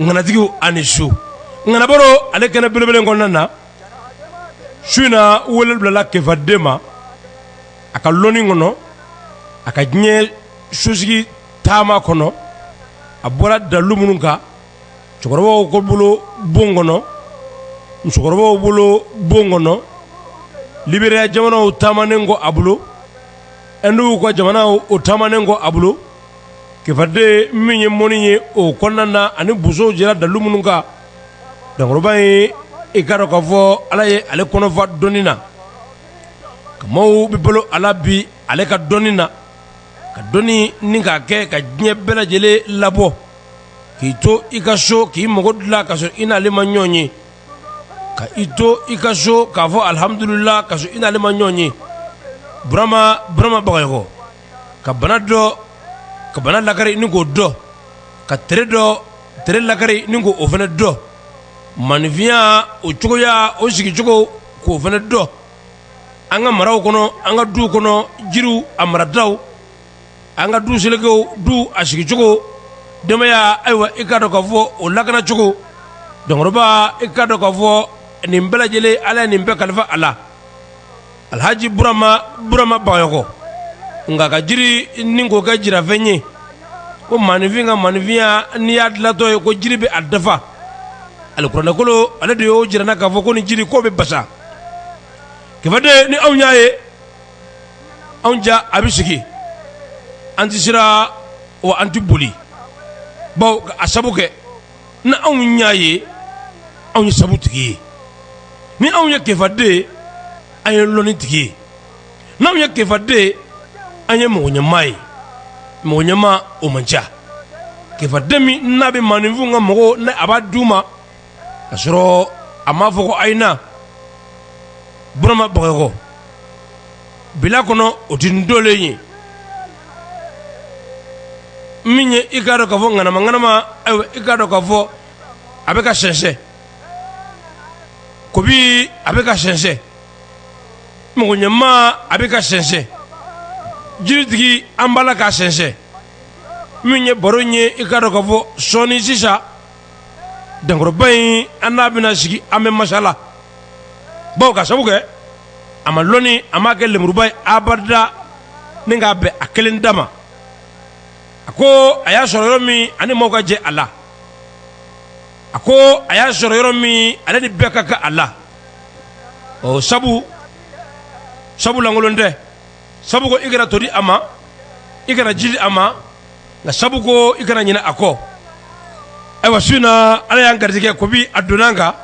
ŋanatigi ani su ŋanabaro ale kɛnɛ belebele kɔnɔna na su in na wele bilala kefaden ma a ka lɔni kɔnɔ a ka diɲɛ sosigi taama kɔnɔ a bɔra dalu minnu kan cɛkɔrɔbaw ko bolo bon kɔnɔ musokɔrɔbaw bolo bon kɔnɔ liberiya jamana o taamanen kɔ a bolo ɛndu ka jamana o taamanen kɔ a bolo kefaden min ye mɔni ye o kɔnɔna na ani bow jira dalu minnu kan dankɔrɔba ye i ka dɔn ka fɔ ala ye ale kɔnɔfa dɔni na ka maaw bɛ bolo ala bi ale ka dɔni na ka dɔni ni ka kɛ ka diɲɛ bɛɛ lajɛlen labɔ k'i to i ka so k'i mago dilan ka sɔrɔ i n'ale ma ɲɔgɔn ye ka i to i ka so k'a fɔ alihamdulila ka sɔrɔ i n'ale ma ɲɔgɔn ye burama baga ka bana dɔn ka bana lakari ni k'o dɔn ka tere dɔn tere lakari ni k' o fana dɔn maninfinya o cogoya o sigicogo k'o fana dɔn an ka maraw kɔnɔ an ka du kɔnɔ jiri a marada an ka du selekew du a sigicogo dɔnbaya ayiwa i kaa dɔn ka fɔ o lakanacogo dankɔrɔba i kaa dɔn ka fɔ nin bɛɛ lajɛlen ala ye nin bɛɛ kalifa a la alhaji burama burama bagayɔkɔ nka ka jiri ni k'o kɛ jirafɛn ye ko maninfin ka maninfinya n'i y'a dilatɔ ye ko jiri bɛ a dafa alikuranɛkolo ale de y'o jira an na k'a fɔ ko ni jiri ko bɛ basa kefaden ni anw y'a ye anw ja a bɛ sigi an tɛ siran wa an tɛ boli bawo ka a sabu kɛ ni anw y'a ye anw ye sabu tigi ye ni anw ye kefaden an ye lɔni tigi ye n' anw ye kefaden an ye mɔgɔ ɲɛmaa ye mɔgɔ ɲɛma o man ca kefaden min n'a bɛ maninfin ka mago ɲɛ a b'a di u ma ka sɔrɔ a ma fɔ ko ayina burama bagayɔkɔ bila kɔnɔ o tɛ n dolen ye min ye i ka dɔn ka fɔ ŋanama ŋanama ayiwa i ka dɔn ka fɔ a bɛ ka sɛnsɛn kobi a bɛ ka sɛnsɛn mɔgɔɲɛmaa a bɛ ka sɛnsɛn jiritigi an b'a la ka sɛnsɛn min ye baro in ye i ka dɔn ka fɔ sɔɔni sisan dankɔrɔba in an n'a bɛna sigi an bɛ masala bawo k'a sabu kɛ a ma lɔni a m'a kɛ lenburuba ye abada ni k'a bɛn a kelen da ma a ko a y'a sɔrɔ yɔrɔ min a ni mɔgɔw ka jɛ a la a ko a y'a sɔrɔ yɔrɔ min ale ni bɛɛ ka kan a la o sabu sabu lankolon tɛ sabu ko i kana todi a ma i kana jiri a ma nka sabu ko i kana ɲinɛ a kɔ ayiwa su in na ala y'an garijɛgɛ ko bi a donna an kan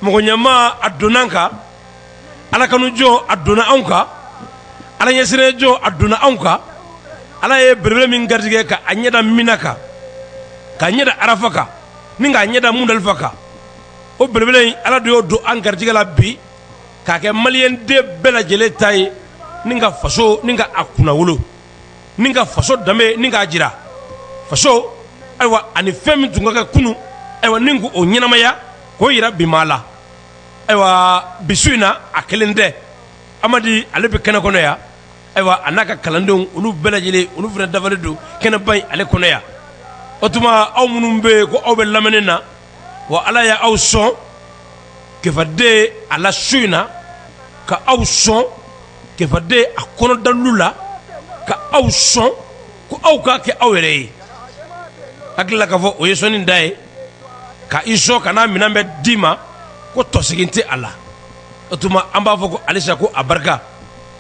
mɔgɔ ɲɛmaa a donna an kan ala kanu jɔn a donna anw kan ala ɲɛsiranɲɛ jɔn a donna anw kan ala ye belebele min garijɛgɛ ka a ɲɛ da mina kan k'a ɲɛ da arafa kan ni k'a ɲɛ da mundalifa kan o belebele in ala de y'o don an garijɛgɛ la bi k'a kɛ maliden bɛɛ lajɛlen ta ye ni ka faso ni ka a kunnawolo ni ka faso danbe ni k'a jira faso ayiwa ani fɛn min tun ka kɛ kunun ayiwa ni ko o ɲɛnamaya k'o yira bi maa la ayiwa bi su in na a kelen tɛ amadi ale bɛ kɛnɛ kɔnɔ yan ayiwa a n'a ka kalandenw olu bɛɛ lajɛlen olu fana dafalen don kɛnɛba in ale kɔnɔ yan o tuma aw minnu bɛ yen ko aw bɛ lamɛnni na wa ala y' aw sɔn kefaden a la su in na ka aw sɔn kefaden a kɔnɔ dalu la ka aw sɔn ko aw ka kɛ aw yɛrɛ ye hakili la k'a fɔ o ye sɔnni dan ye ka i sɔn ka n'a minɛn bɛɛ d'i ma ko tɔsegin tɛ a la o tuma an b'a fɔ ko alisa ko a barika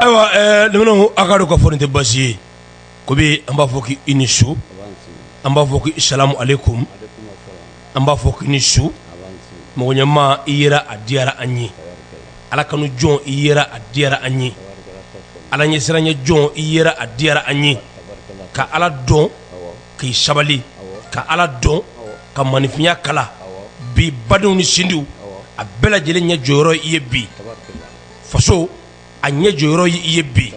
Ayiwa lamɛnnaw a k'a dɔn k'a fɔ nin tɛ basi ye ko bi an b'a fɔ k' i ni su an b'a fɔ k'i salamu aleykum an b'a fɔ k i ni su mɔgɔ ɲɛmaa i yera a diyara an ye ala kanu jɔn i yera a diyara an ye ala ɲɛsiranɲɛ jɔn i yera a diyara an ye ka ala dɔn k'i sabali ka ala dɔn ka maninfinya kala bi badenw ni sinjiw a bɛɛ lajɛlen ɲɛ jɔyɔrɔ i ye bi faso a ɲɛ jɔyɔrɔ y' i ye bi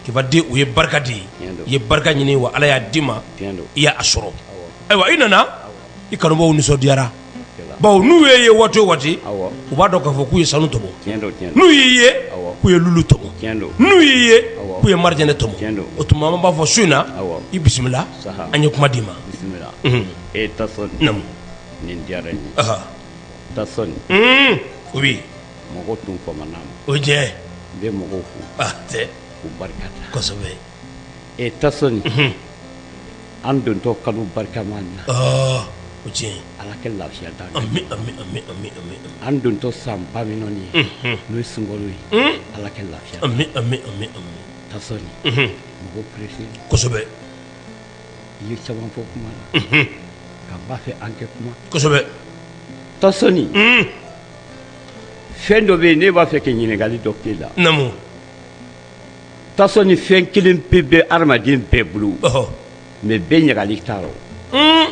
k'i badenw ye barika de ye i ye barika ɲini wa ala y'a d'i ma i y'a sɔrɔ ayiwa i nana i kanubaw nisɔndiyara bawo n'u y'i ye waati o waati u b'a dɔn k'a fɔ k'u ye sanu tɔmɔ n'u y'i ye k'u ye lulu tɔmɔ n'u y'i ye k'u ye marijɛnɛ tɔmɔ o tuma an b'a fɔ su in na i bisimila an ye kuma d'i ma e o mɔgɔ tun famana ma o jɛ n bɛ mɔgɔw fo tɛ k'u barika da kosɛbɛ e tasoni an dontɔ kalo barikama na o cɛ ala kɛ lafiya d'an dontɔ san ba min ye n'o ye sunkalo ye ala kɛ lafiya tasoni mɔgɔ pressé kosɛbɛ i ye caman fɔ kuma la k'an b'a fɛ an kɛ kuma kosɛbɛ tasoni fɛn dɔ bɛ yen ne b'a fɛ ka ɲininkali dɔ k'e la. Naamu. Tasoni fɛn kelen pe bɛ adamaden bɛɛ bolo. Ɔhɔ. Mais bɛɛ ɲagali t'a rɔ. Un!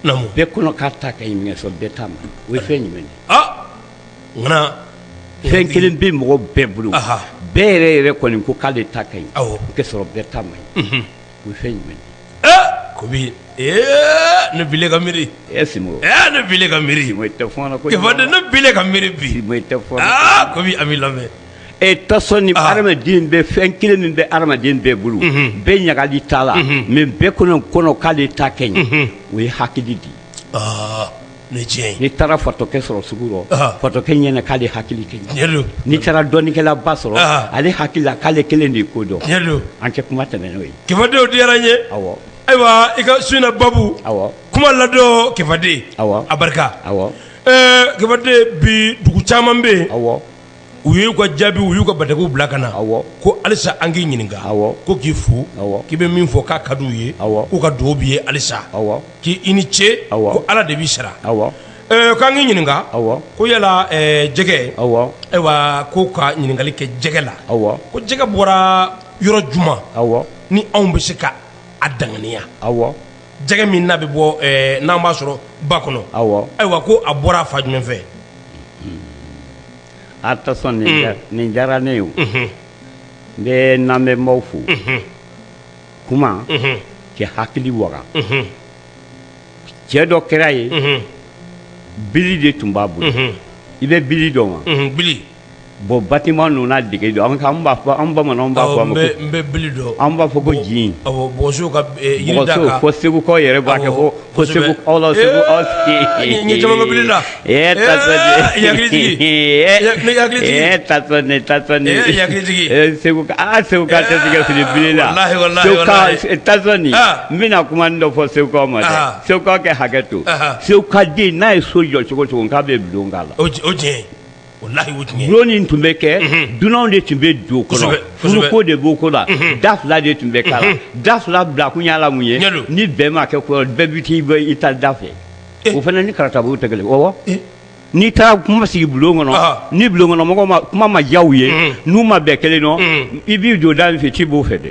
Naamu. Bɛɛ kɔnɔ k'a ta ka ɲi mais k'a sɔrɔ bɛɛ ta man ɲi. O ye fɛn jumɛn ye? Aa! Ŋana! Fɛn kelen bɛ mɔgɔ bɛɛ bolo. Aha! Bɛɛ yɛrɛ yɛrɛ kɔni ko k'ale ta ka ɲi. Awɔ. K'a sɔrɔ bɛɛ ta man ɲi. Unhun! o ye fɛn jumɛn ye ko bi ne bila ka miiri e simo ne bila ka miiri simo i tɛ fɔ n na ko de ne bila ka miiri bi simo i tɛ fɔ n na ko bi an b'i lamɛn e tasoni hadamaden bɛ fɛn kelen min bɛ hadamaden bɛɛ bolo bɛɛ ɲagali t'a la mais bɛɛ kɔnɔ kɔnɔ k'ale ta ka ɲi o ye hakili de ye n'i taara fatɔkɛ sɔrɔ sugu rɔ fatɔkɛ ɲɛna k'ale hakili ka ɲi tiɲɛ don n'i taara dɔnnikɛlaba sɔrɔ ale hakili la k'ale kelen de ye ko dɔn tiɲɛ don an tɛ kuma tɛmɛn n'o ye kefaden o diyara n ye awɔ ayiwa i ka su in na babu awɔ kuma ladon kefaden a barika awɔ kefaden bi dugu caman bɛ yen u y'u ka jaabi u y'u ka batakiw bila ka na ko halisa an k'i ɲininka ko k'i fo k'i bɛ min fɔ k'a ka di u ye k'u ka dugawu b'i ye halisa k'i ni ce ko ala de b'i sara k'an k'i ɲininka ko yala jɛgɛ ayiwa ko ka ɲininkali kɛ jɛgɛ la ko jɛgɛ bɔra yɔrɔ juma ni anw bɛ se ka a danganiya jɛgɛ min n'a bɛ bɔ n'an b'a sɔrɔ ba kɔnɔ ayiwa ko a bɔra fan jumɛn fɛ a tasoni nin diyara ne ye n bɛ n lamɛnbaaw fo kuma kɛ hakili waga cɛ dɔ kɛra ye bili de tun b'a bolo i bɛ bili dɔn wa bon bâtiment ninnu dege don an b'a fɔ an bamanan b'a fɔ an b'a fɔ ko jin segukaw yɛrɛ b'a kɛ segu aw la segu segu n bɛna kuma dɔ fɔ segukaw ma segukaw ka hakɛ to segukaden n'a ye so jɔ cogo o cogo k'a bɛ bulon k'a la wallahi bulon nin tun bɛ kɛ dunanw de tun bɛ don o kɔnɔ furu ko de b'o ko la da fila de tun bɛ k'a la da fila bila kun y'a la mun ye ni bɛn ma kɛ bɛɛ bɛ t'i bɔ i ta da fɛ o fana ni karatabugu tɛ kelen awɔ n'i taara kuma sigi bulon kɔnɔ ni bulon kɔnɔmɔgɔw ma kuma ma diya u ye n'u ma bɛn kelen nɔ i b'i don da min fɛ i tɛ bɔ o fɛ dɛ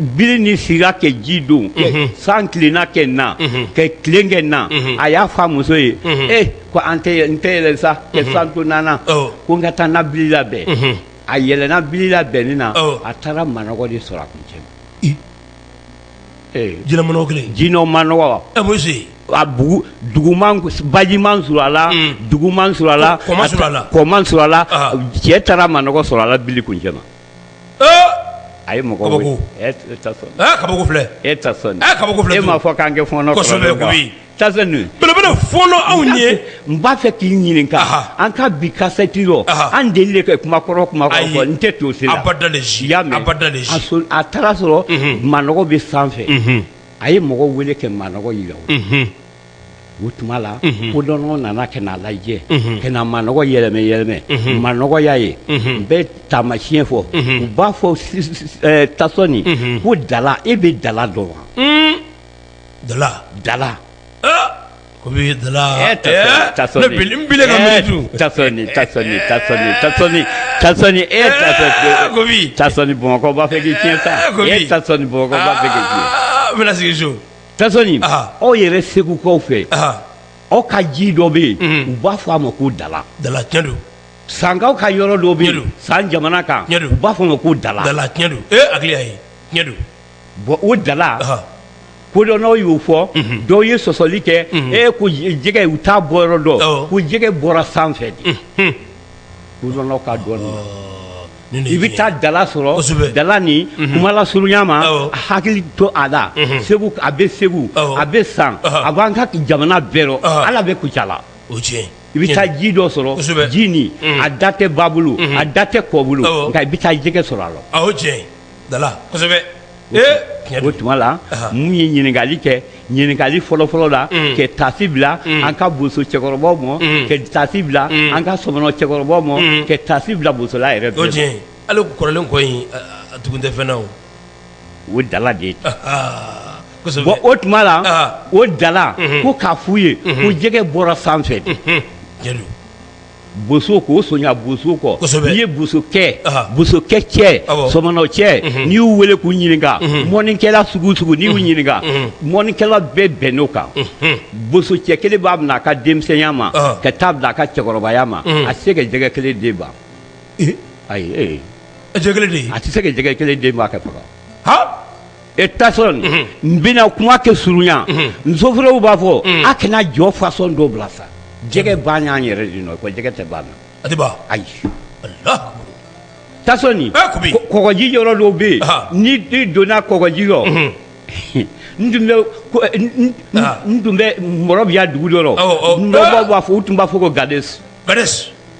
bili nin sira kɛ ji don san tilenna kɛ n na ka tilen kɛ na a y'a fɔ a muso ye e ko n tɛ yɛlɛ sa ka san to nana ko n ka taa n na bili labɛn a yɛlɛna bili labɛnni na a taara manɔgɔ de sɔrɔ a kuncɛ ma jinɛ manɔgɔ baji ma su a la dugu ma su a la kɔ ma su a la cɛ taara manɔgɔ sɔrɔ a la bili kuncɛ a ye mɔgɔ weele kabako e belebele fɔ anw ye n b'a fɛ k'i ɲininka an ka bi kasɛti rɔ an deli ka kuma kɔrɔ fɔ n tɛ to si la a taara sɔrɔ manɔgɔ bɛ sanfɛ a ye mɔgɔ weele ka manɔgɔ jira o tuma la kodɔnnaw nana ka n'a lajɛ ka na manɔgɔ yɛlɛmɛ yɛlɛmɛ manɔgɔ y'a ye n bɛ taamasiyɛn fɔ u b'a fɔ Tasoni ko dala e bɛ dala dɔn wa dala dala ko bamakɔ b'a fɛ k'i tiɲɛ sa sigi Tasoni aw yɛrɛ segukaw fɛ aw ka ji dɔ bɛ yen u b'a fɔ a ma ko dala dala tiɲɛ don sankaw ka yɔrɔ dɔ bɛ yen san jamana kan u b'a fɔ a ma ko dala dala tiɲɛ don a tiɲɛ don bɔn o dala kodɔnnaw y'o fɔ dɔw ye sɔsɔli kɛ e ko jɛgɛ u t'a bɔ yɔrɔ dɔn ko jɛgɛ bɔra sanfɛ de kodɔnnaw k'a dɔn i bɛ taa dala sɔrɔ dala nin kuma lasurunya ma a hakili to a la segu a bɛ segu a bɛ san a b'an ka jamana bɛɛ rɔ dala bɛ kucala o tiɲɛ i bɛ taa ji dɔ sɔrɔ ji nin a da tɛ ba bolo a da tɛ kɔ bolo nka i bɛ taa jɛgɛ sɔrɔ a la o tiɲɛ ye ɲininkali kɛ ɲininkali fɔlɔfɔlɔ la ka taasi bila an ka boso cɛkɔrɔbaw ma ka taasi bila an ka sɔmɔnɔ cɛkɔrɔbaw ma ka taasi bila bosola yɛrɛ o tiɲɛ ale kɔrɔlen kɔ in a tugu tɛ fɛn na o dala de ye o tuma la o dala ko k'a f'u ye ko jɛgɛ bɔra sanfɛ boso k'o sonya boso kɔ n'i ye boso cɛ sɔmɔnɔ cɛ n'i y'u weele k'u ɲininka mɔnikɛla sugu sugu n'i y'u ɲininka mɔnikɛla bɛɛ bɛnn'o kan boso cɛ kelen b'a minɛ a ka denmisɛnya ma ka taa bila a ka cɛkɔrɔbaya ma a tɛ se ka jɛgɛ kelen den ban ayi a tɛ se ka jɛgɛ kelen den ban ka faga E tasɔn n bɛna kuma kɛ surunya ni zofɔrɛw b'a fɔ a kana jɔ fasɔn dɔ bila sa jɛgɛ ban y'an yɛrɛ de nɔ ko jɛgɛ tɛ ban na a tɛ ban ayi tasɔn kɔgɔji yɔrɔ dɔw bɛ yen n'i donna kɔgɔji yɔrɔ n tun bɛ mɔrɔbiya dugu dɔ rɔ b'a fɔ u tun b'a fɔ ko gadi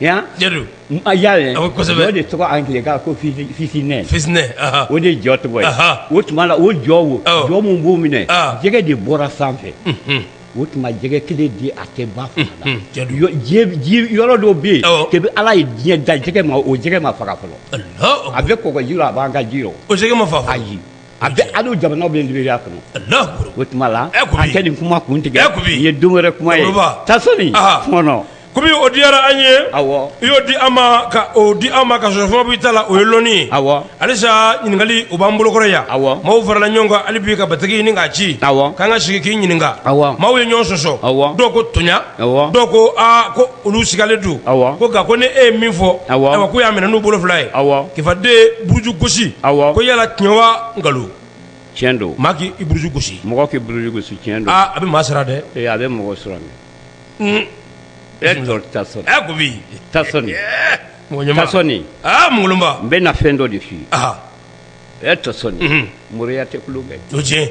yan y'a ye o de tɔgɔ angilɛkan ko fisinɛ o de jɔ tɔgɔ ye o tuma la o jɔ o jɔ min b'o minɛ jɛgɛ de bɔra sanfɛ o tuma jɛgɛ kelen di a tɛ ba fanga la yɔrɔ dɔ bɛ yen kabi ala ye diɲɛ da jɛgɛ ma o jɛgɛ ma faga fɔlɔ a bɛ kɔgɔji rɔ a b'an ka ji rɔ o ma faga faga a bɛ hali jamana bɛ liberiya kɔnɔ o tuma la an tɛ nin kuma kun tigɛ nin ye don wɛrɛ kuma ye tasɔn kobi o diyara an ye i y'o di an ma o di an ma ka sɔrɔ fɛn ma b'i ta la o ye lɔnni ye halisa ɲininkakali u b'an bolokɔrɔ yan maaw farala ɲɔgɔn kan hali bi ka bataki ɲini k'a ci k'an ka sigi k'i ɲininka maaw ye ɲɔgɔn sɔsɔ dɔw ko toɲa dɔw ko ko olu sigalen don ko nka ko ni e ye min fɔ ayiwa k'u y'a minɛ n'u bolo fila ye k'i faden buruju gosi ko yala tiɲɛ wa nkalon cɛn don maa k'i buruju gosi mɔgɔ k'i buruju gosi cɛn don a bɛ maa sara dɛ ee a bɛ mɔgɔ sɔrɔ e tasɔn kobi tasɔn ŋba n bɛ na fɛn dɔ de fɔ i ye tasɔn moriya tɛ kulu bɛ jo cɛ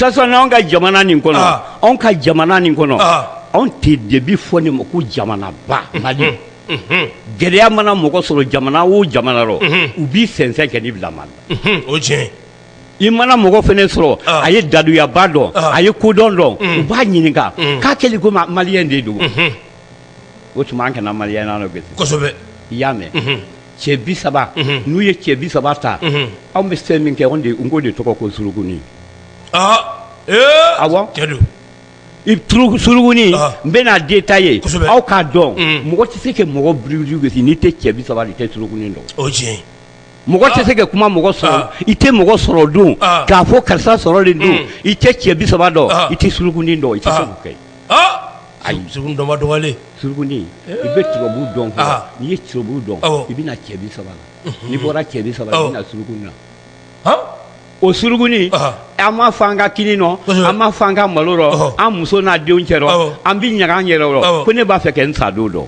anw ka jamana nin kɔnɔ anw ka jamana nin kɔnɔ anw tɛ debi fɔ nin ma ko jamanaba mali gɛlɛya mana mɔgɔ sɔrɔ jamana o jamana rɔ u b'i sɛnsɛn kɛ n'i bila maa la o cɛn i mana mɔgɔ fana sɔrɔ a ye daduyaba dɔn a ye kodɔn dɔn u b'a ɲininka k'a kɛlen ko maliyɛn de don o tuma an kana maliyɛn bi i y'a mɛn cɛ bi saba n'u ye cɛ bi saba ta anw bɛ fɛn min kɛ n k'o de tɔgɔ ko surugunin a i surugunin n bɛna detaye aw k'a dɔn mɔgɔ tɛ se ka mɔgɔ buruju gosi n'i tɛ cɛ bi saba i tɛ surugunin dɔn mɔgɔ tɛ se ka kuma mɔgɔ sɔrɔ i tɛ mɔgɔ sɔrɔ dɔn k'a fɔ karisa sɔrɔlen don i tɛ cɛ bi saba dɔn i tɛ surugunin dɔn i tɛ se k'o kɛ ayi surugunin dɔnba dɔgɔyalen surugunin i bɛ turabu dɔn n'i ye turabu dɔn i bɛ na cɛ bi saba la n'i bɔra cɛ bi saba i na surugunin na o surugunin an m'a fɔ an ka kini nɔ an m'a fɔ an ka malo rɔ an muso n'a denw cɛ rɔ an bɛ ɲaga an yɛrɛ rɔ ko ne b'a fɛ kɛ n sa don dɔn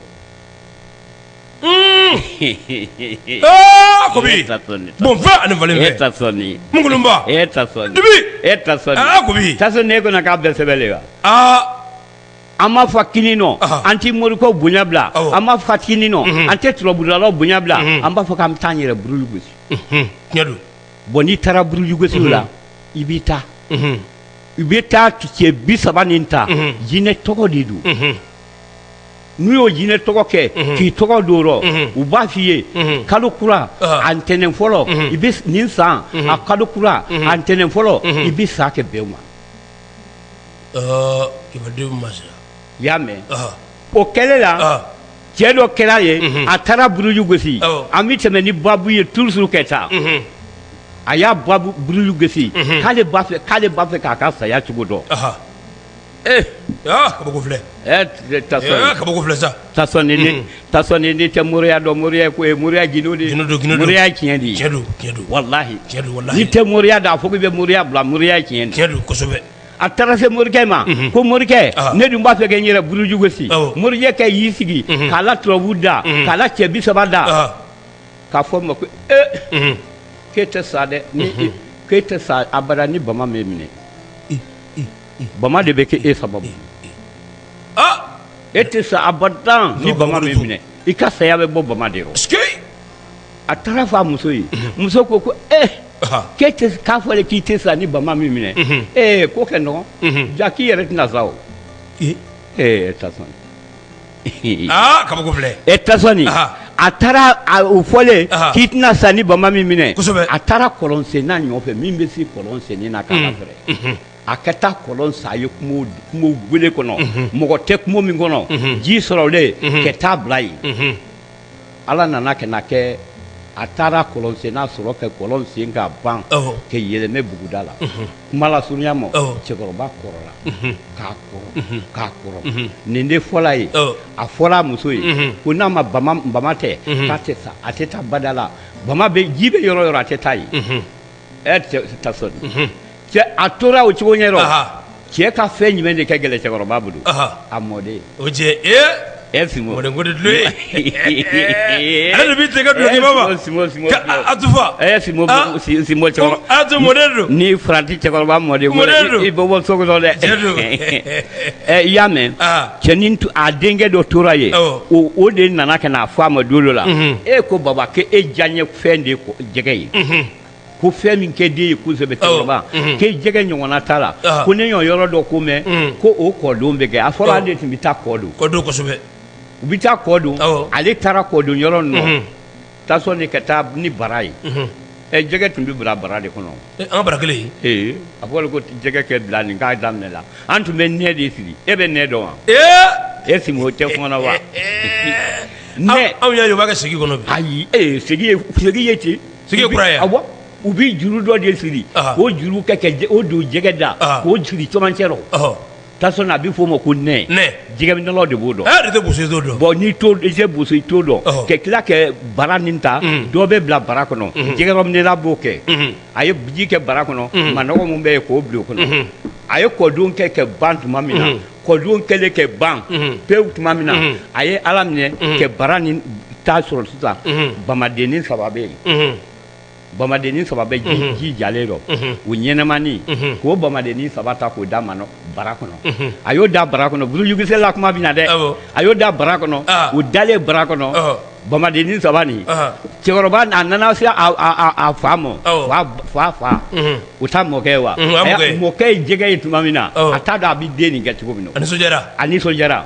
an m'a fɔ k'an tɛ morikɛw bonya bila an m'a fɔ k'an tɛ turabudalaw bonya bila an b'a fɔ k'an bɛ taa an yɛrɛ buruju gosi bon n'i taara buruju gosi la i bɛ taa i bɛ taa cɛ bi saba nin ta jinɛ tɔgɔ de don n'u y'o jinɛ tɔgɔ kɛ k'i tɔgɔ don rɔ u b'a f'i ye kalo kura a ntɛnɛn fɔlɔ i bɛ nin san a kalo kura a ntɛnɛn fɔlɔ i bɛ sa kɛ bɛn ma i y'a mɛn o kɛlen la cɛ dɔ kɛra ye a taara buruju gosi an bɛ tɛmɛ ni babu ye toujours ka taa a y'a babu buruju gosi k'ale b'a fɛ k'a ka saya cogo dɔn ee kabako filɛ sa n'i tɛ moriya dɔn moriya ko mori moriya tiɲɛ walahi n'i tɛ moriya dɔn a fɔ k'i bɛ moriya bila moriya tiɲɛ kosɛbɛ a taara se morikɛ ma ko morikɛ ne dun b'a fɛ ka n yɛrɛ buruju gosi morikɛ y'i sigi k'a la turabu da k'a la cɛ bi saba da k'a fɔ a ma ko ee k'e tɛ sa dɛ k'e tɛ sa abada ni bama m'e minɛ bama de bɛ kɛ e sababu e tɛ sa abada ni bama m'i minɛ i ka saya bɛ bɔ bama de rɔ a taara fɔ a muso ye muso ko ko e k'a fɔlen k'i tɛ sa ni bama m'i minɛ e ko kɛ nɔgɔ ja k'i yɛrɛ tɛna sa o e e ta kabako filɛ e ta a taara o fɔlen k'i tɛna sa ni bama m'i minɛ a taara kɔlɔnsenna nɔfɛ min bɛ se kɔlɔnsenni na k'a fɛrɛ a ka taa kɔlɔn sen a ye kungo gɛlɛn kɔnɔ mɔgɔ tɛ kungo min kɔnɔ ji sɔrɔlen ka taa bila yen ala nana ka na kɛ a taara kɔlɔnsenna sɔrɔ ka kɔlɔn sen ka ban ka yɛlɛma buguda la kuma lasurunya ma cɛkɔrɔba kɔrɔla ka kɔrɔ ka kɔrɔ nin de fɔra a ye a fɔra a muso ye ko n'a ma bama tɛ k'a tɛ sa a tɛ taa bada la bama bɛ ji bɛ yɔrɔ o yɔrɔ a tɛ taa yen a tora o cogoya rɔ cɛ ka fɛn jumɛn de ka gɛlɛn cɛkɔrɔba bolo a mɔden o cɛ e fi dulo ale ni faranti cɛkɔrɔba mɔden i bɛ bɔ so dɛ i y'a mɛn cɛ nin a denkɛ dɔ tora yen o de nana ka na fɔ a ma don dɔ la e ko baba e diya ye fɛn de ye ko- jɛgɛ ye ko fɛn min kɛ den ye kosɛbɛ cɛkɔrɔba mhm. k'e jɛgɛ ɲɔgɔnna t'a la Ah. ko ne y'o yɔrɔ dɔ ko mɛn Mm. ko o kɔdon bɛ kɛ a fɔra Ah. ale de tun bɛ taa kɔdon kɔ don kosɛbɛ u bɛ taa kɔdon Awɔ. ale taara kɔdon yɔrɔ ninnu Mhm. tasɔn de ka taa ni bara ye Mhm. ɛ jɛgɛ tun bɛ bila bara de kɔnɔ An bara kelen ee a fɔra ko jɛgɛ kɛ bila nin k'a daminɛ la an tun bɛ nɛ de siri e bɛ nɛ dɔn wa e si o tɛ kuma na wa anw y'a ye u b'a kɛ segi kɔnɔ bi ayi segi ye ten segi ye kura ye awɔ u bɛ juru dɔ de siri k'o juru k'o don jɛgɛ da k'o siri camancɛ rɔ a bɛ f'o ma ko nɛ jɛgɛminɛlaw de b'o dɔn n'i tɛ boso i t'o dɔn ka tila kɛ bara nin ta dɔ bɛ bila bara kɔnɔ jɛgɛminɛla b'o kɛ a ye ji kɛ bara kɔnɔ manɔgɔ min bɛ yen k'o bila o kɔnɔ a ye kɔdon kɛ kɛ ban tuma min na kɔdon kɛlen kɛ ban pewu tuma min na a ye ala minɛ kɛ bara nin ta sɔrɔ sisan bamadennin saba bɛ yen bamadennin saba bɛ ji jalen rɔ o ɲɛnamani k'o bamadennin saba ta k'o da bara kɔnɔ a y'o da bara kɔnɔ burujugosila kuma bɛ na dɛ a y'o da bara kɔnɔ u dalen bara kɔnɔ bamadennin saba cɛkɔrɔba n'a nana se a fa ma fa fa u ta mɔkɛ wa mɔkɛ ye jɛgɛ ye tuma min na a t'a dɔn a bɛ den nin kɛ cogo min na a nisɔndiyara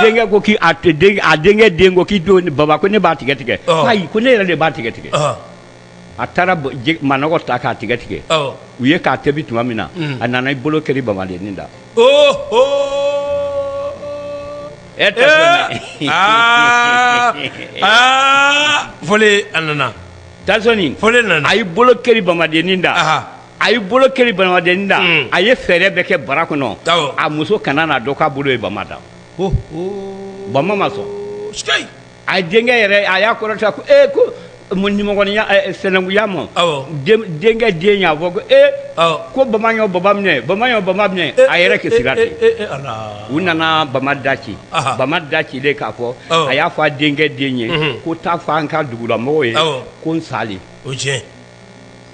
denkɛ ko a denkɛ den ko k'i don baba ko ne b'a tigɛ tigɛ ko ne yɛrɛ de b'a tigɛ tigɛ a taara manɔgɔ ta k'a tigɛ tigɛ u ye k'a tobi tuma min na a nana i bolo kɛri bamadennin da e tɛ foli a nana tasɔn foli nana a y'i bolo kɛri bamadennin da a y'i bolo kɛri bamadennin da a ye fɛɛrɛ bɛɛ kɛ bara kɔnɔ a muso kana n'a dɔn k'a bolo ye bama da bama ma sɔn a denkɛ yɛrɛ a y'a kɔrɔta ko ee ko nimɔgɔninya sɛnɛkunya ma denkɛ den y'a fɔ ko ee ko bama ye n baba minɛ bama ye n baba minɛ a yɛrɛ kɛ siran ten u nana bama da ci bama da cilen k'a fɔ a y'a fɔ a denkɛ den ye ko taa fɔ an ka dugulamɔgɔw ye ko n sa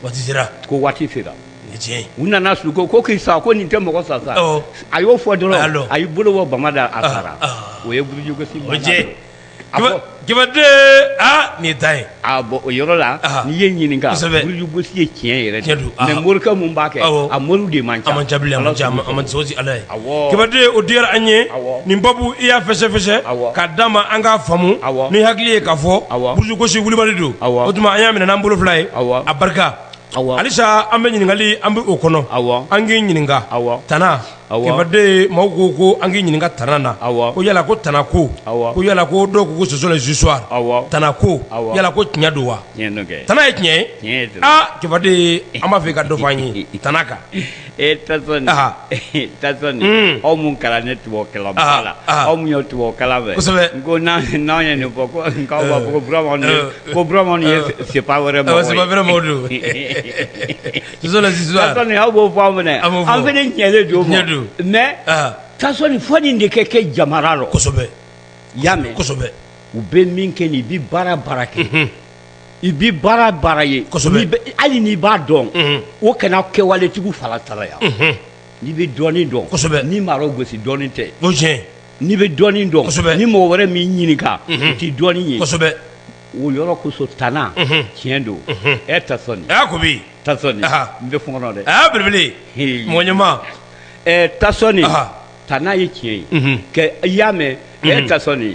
waati sera ko waati sera tiɲɛ u nana su ko k'i sa ko nin tɛ mɔgɔ sa sa a y'o fɔ dɔrɔn a y'i bolo bɔ bama da a sara o ye burujugosi jɛden aa nin ta ye bɔn o yɔrɔ la n'i ye ɲininka burujugosi ye tiɲɛ yɛrɛ don mɛ morikɛ mun b'a kɛ a moriw de man ca a la Kibaden o diyara an ye nin babu i y'a fɛsɛsɛ ka d di' ma an ka faamu ni hakili ye k'a fɔ burujugosi wulibali don o tuma an y'a minɛ n'an bolo fila ye a barika halisa an bɛ ɲininkali an bɛ o kɔnɔ an k'i ɲininka tana Kibaden mɔgɔw ko ko an k'i ɲininka tana na ko yala ko tana ko ko yala ko dɔw ko ko ce sont les histoires tana ko yala ko tiɲɛ don wa tana ye tiɲɛ ye aa kibaden an b'a fɛ i ka dɔ fɔ an ye tana kan E t aw minnu kɛra ne tu kɛlɛ la aw min ye tu kala fɛ n ko n'an ye nin fɔ ko kourama ye se wɛrɛ wɛrɛ aw b'o fɔ aw minɛ an fana ne ɲɛlen don ɲɛ don mɛ taa sɔrɔ nin fɔ nin de kɛ kɛ jamana la ya mɛn u bɛ min kɛ nin i bɛ baara baara kɛ i bɛ baara baara ye hali n'i b'a dɔn o kana kɛwaletigiw fara tara yan n'i bɛ dɔnni dɔn kosɛbɛ n'i m'a gosi dɔnni tɛ n'i bɛ dɔnni dɔn kosɛbɛ ni mɔgɔ wɛrɛ m'i ɲininka o tɛ dɔnni ye kosɛbɛ o yɔrɔ kosɔn tana tiɲɛ don e Tasoni n bɛ fɔ dɛ aa belebele mɔgɔ ɲɛma Tasoni tana ye tiɲɛ ye i y'a mɛn e Tasoni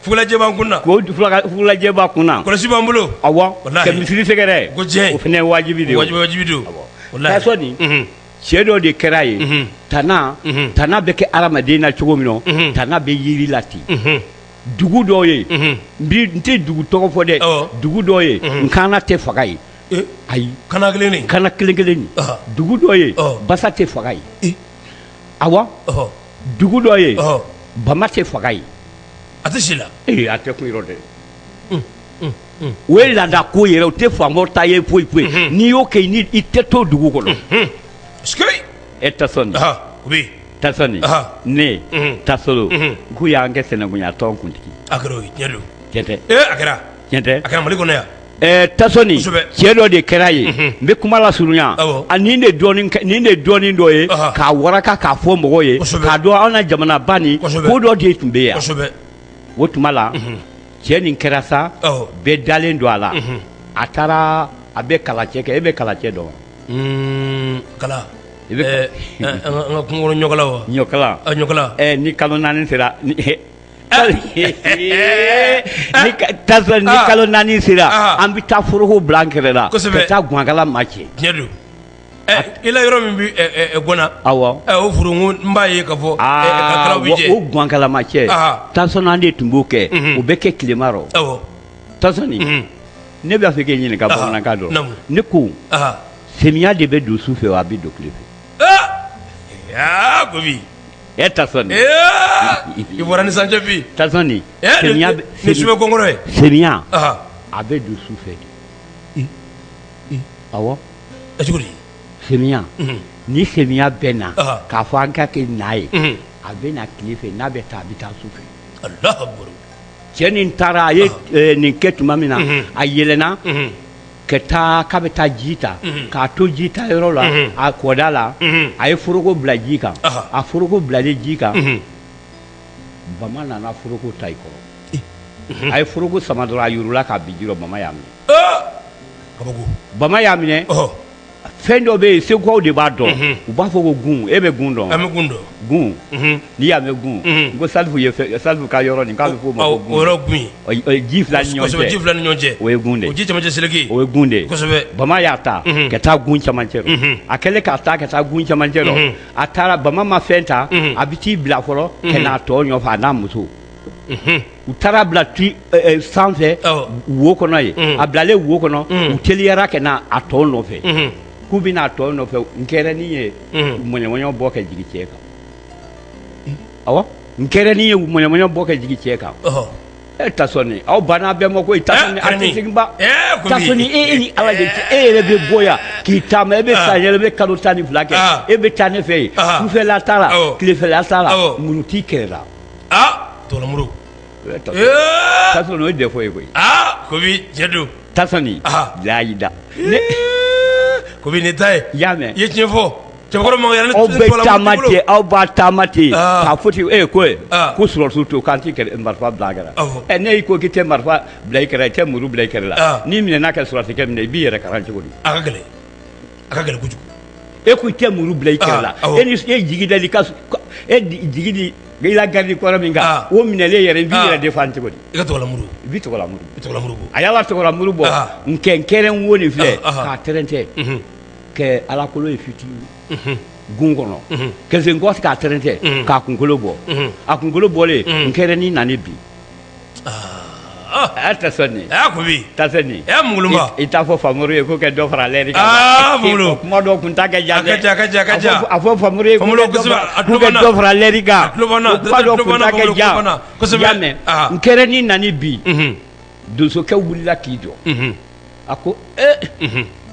Fugulajɛ b'an kun na, o fugulajɛ b'a kun na, kɔlɔsi b'an bolo, awɔ, walahi, ka misiri sɛgɛrɛ, ko tiɲɛ, o fana ye wajibi de ye, wajibi don, unhun, Tasoni, cɛ dɔ de kɛra yen, unhun, tana, unhun, tana bɛ kɛ adamaden na cogo min na, unhun, tana bɛ yiri la ten, unhun, dugu dɔ ye, unhun, n tɛ dugu tɔgɔ fɔ dɛ, awɔ, dugu dɔ ye, unhun, nkaana tɛ faga yen, ee, ayi, kaana kelen nin, kaana kelen kelen nin, ɔhɔ, dugu dɔ ye, ɔhɔ, basa tɛ faga yen, ee, awɔ, ɔhɔ dugu dɔ ye bama tɛ faga yen a tɛ si la ee a tɛ kun yɔrɔ dɛ o ye laada ko yɛrɛ o tɛ faamaw ta ye foyi foyi n'i y'o kɛ yen i tɛ to dugu kɔnɔ e Tasoni Tasoni ne tasolon k'u y'an kɛ sɛnɛkunya tɔn kuntigi a kɛra a kɛra a kɛra Mali kɔnɔ yan Ɛɛ Tasoni cɛ dɔ de kɛra yen n bɛ kuma lasurunya ani nin de dɔɔnin dɔ ye k'a waraka k'a fɔ mɔgɔw ye k'a dɔn an ka jamana ba nin ko dɔ de tun bɛ yan o tuma la cɛ nin kɛra sa bɛɛ dalen don a la a taara a bɛ kalacɛ kɛ e bɛ kalacɛ dɔn i bɛ ɲɔkala ni kalo naani sera ni kalo naani sera an bɛ taa foroko bila an kɛrɛ la ka taa gwakala ma cɛ i la yɔrɔ min bɛ Gɔna n b'a ye ka fɔ gwakala ma cɛ Tasoni an de tun b'o kɛ o bɛ kɛ tilema rɔ Tasoni ne b'a fɛ k'i ɲininka bamanankan dɔ ne ko semiya de bɛ don su fɛ a bɛ don tile fɛ E Tasoni i bɔra ni sancɛ bi Tasoni nin subɛkɔrɔ ye semiya a bɛ don su fɛ de awɔ semiya ni semiya bɛ na k'a fɔ an ka kɛ n ye a bɛ na tile fɛ n'a bɛ taa a bɛ taa su fɛ cɛ nin taara a ye nin kɛ tuma min na a yɛlɛnna ka taa k'a bɛ taa ji ta k'a to ji ta yɔrɔ la a kɔda la a ye foroko bila ji kan a foroko bilalen ji kan bama nana foroko ta i kɔrɔ a ye foroko sama dɔrɔn a yurula ka bin ji rɔ bama y'a minɛ bama y'a minɛ fɛn dɔ bɛ yen segukaw de b'a dɔn u b'a fɔ ko gun e bɛ gun dɔn an bɛ gun dɔn gun n'i y'a mɛn gun n ko Salifu ka yɔrɔ nin k'a fɔ o ma ji fila ni ɲɔgɔn cɛ o ye gun de ji camancɛ seleke o ye gun de bama y'a ta ka taa gun camancɛ rɔ a kɛlen k'a ta ka taa gun camancɛ rɔ a taara bama ma fɛn ta a bɛ t'i bila fɔlɔ ka n'a tɔ nɔfɛ a n'a muso u taara a bila sanfɛ wo kɔnɔ yen a bilalen wo kɔnɔ u teliyara ka na a tɔ nɔfɛ k'u bɛ na a tɔ nɔfɛ nkɛrɛnin ye mɔɲɔmɔɲɔ bɔ ka jigin cɛ kan awɔ nkɛrɛnin ye mɔɲɔmɔɲɔ bɔ ka jigin cɛ kan e Tasoni aw banna bɛɛ ma ko i seginba e ni ala e yɛrɛ bɛ bɔ yan k'i taama e bɛ san yɛrɛ bɛ kalo tan ni fila kɛ e bɛ taa ne fɛ yen sufɛla t'a la tilefɛla t'a la muru t'i kɛrɛ la aa tɔlamuru Tasoni o ye défaut ye koyi Kobi cɛn don Tasoni layida Kobi ne ta ye y'a mɛn i ye tiɲɛ fɔ cɛkɔrɔba aw bɛ taama ten k'a fɔ ten e ye ko ko sɔrɔsiw to k'an tɛ marifa bila an kɛrɛ la ɛ ne y'i ko k'i tɛ marifa bila i kɛrɛ la i tɛ muru bila i kɛrɛ la n'i minɛna kɛ sɔrɔsikɛ minɛ i b'i yɛrɛ karan cogo di a ka gɛlɛn kojugu e ko i tɛ muru bila i kɛrɛ la e ni e jigi da ka e jigi di i la garde-corps min kan o minɛlen yɛrɛ i b'i yɛrɛ défendre cogo di i ka tɔgɔlamuru i b'i tɔgɔlamuru bɔ a y'a la tɔgɔlamuru bɔ nkɛ nkɛrɛn wo nin filɛ k'a tɛrɛntɛ kɛ alakolo ye fitinin gun kɔnɔ kɛlɛsen kɔfɛ k'a tɛrɛntɛ k'a kunkolo bɔ a kunkolo bɔlen nkɛrɛnin nani bi A tɛ sɔn a ko bi ta nin e ŋ i t'a fɔ faamuru ye ko kɛ dɔ fara ale kuma dɔw tun ta kɛ ja ja a fɔ fa ye dɔ fara lɛri n kɛra ni nan bi donsokɛ wulila k'i jɔ a ko e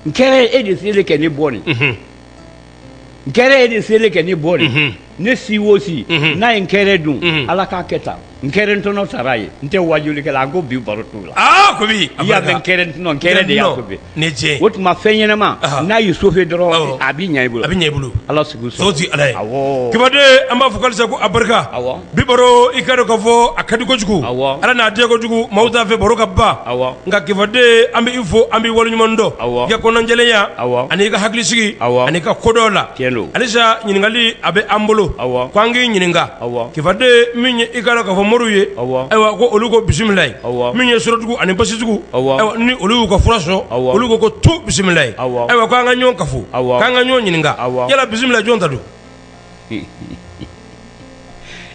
n kɛra e de seli kɛ ne bɔ nin nkɛrɛ e de selen kɛ ne bɔnɛ ne si o si n'a ye nkɛrɛ dun ala k'a kɛ taa nkɛrɛ ntɔnɔ sara a ye n tɛ waajulikɛla an ko bi baro t'u la ko i y'a mɛn nkɛrɛ ntɔnɔ nkɛrɛ de y'a ne cɛ o tuma fɛn ɲɛnama n'a y'i sofe dɔrɔn a bɛ ɲɛ bolo a bɛ ɲɛ bolo ala soso ala kibaden an b'a fɔ alisa ko a barika Bi baro i ka dɔn k'a fɔ a ka di kojugu ala n'a diya kojugu maaw t'a fɛ baro ka ban nka kifaden an bɛ i fo an b'i waleɲuman dɔn i ka kɔnɔnajɛlenya ani i ka hakilisigi ani i ka kodɔn la alisa ɲininkali a bɛ an bolo ko an k'i ɲininka kifaden min ye i ka dɔn k'a fɔ moriw ye ayiwa ko olu ko bisimilayi min ye sɔrɔtugu ani basitugu ayiwa ni olu y'u ka fura sɔrɔ olu ko ko tu bisimilayi ayiwa ko an ka ɲɔgɔn kafo k'an ka ɲɔgɔn ɲininka yala bisimilayi jɔn ta don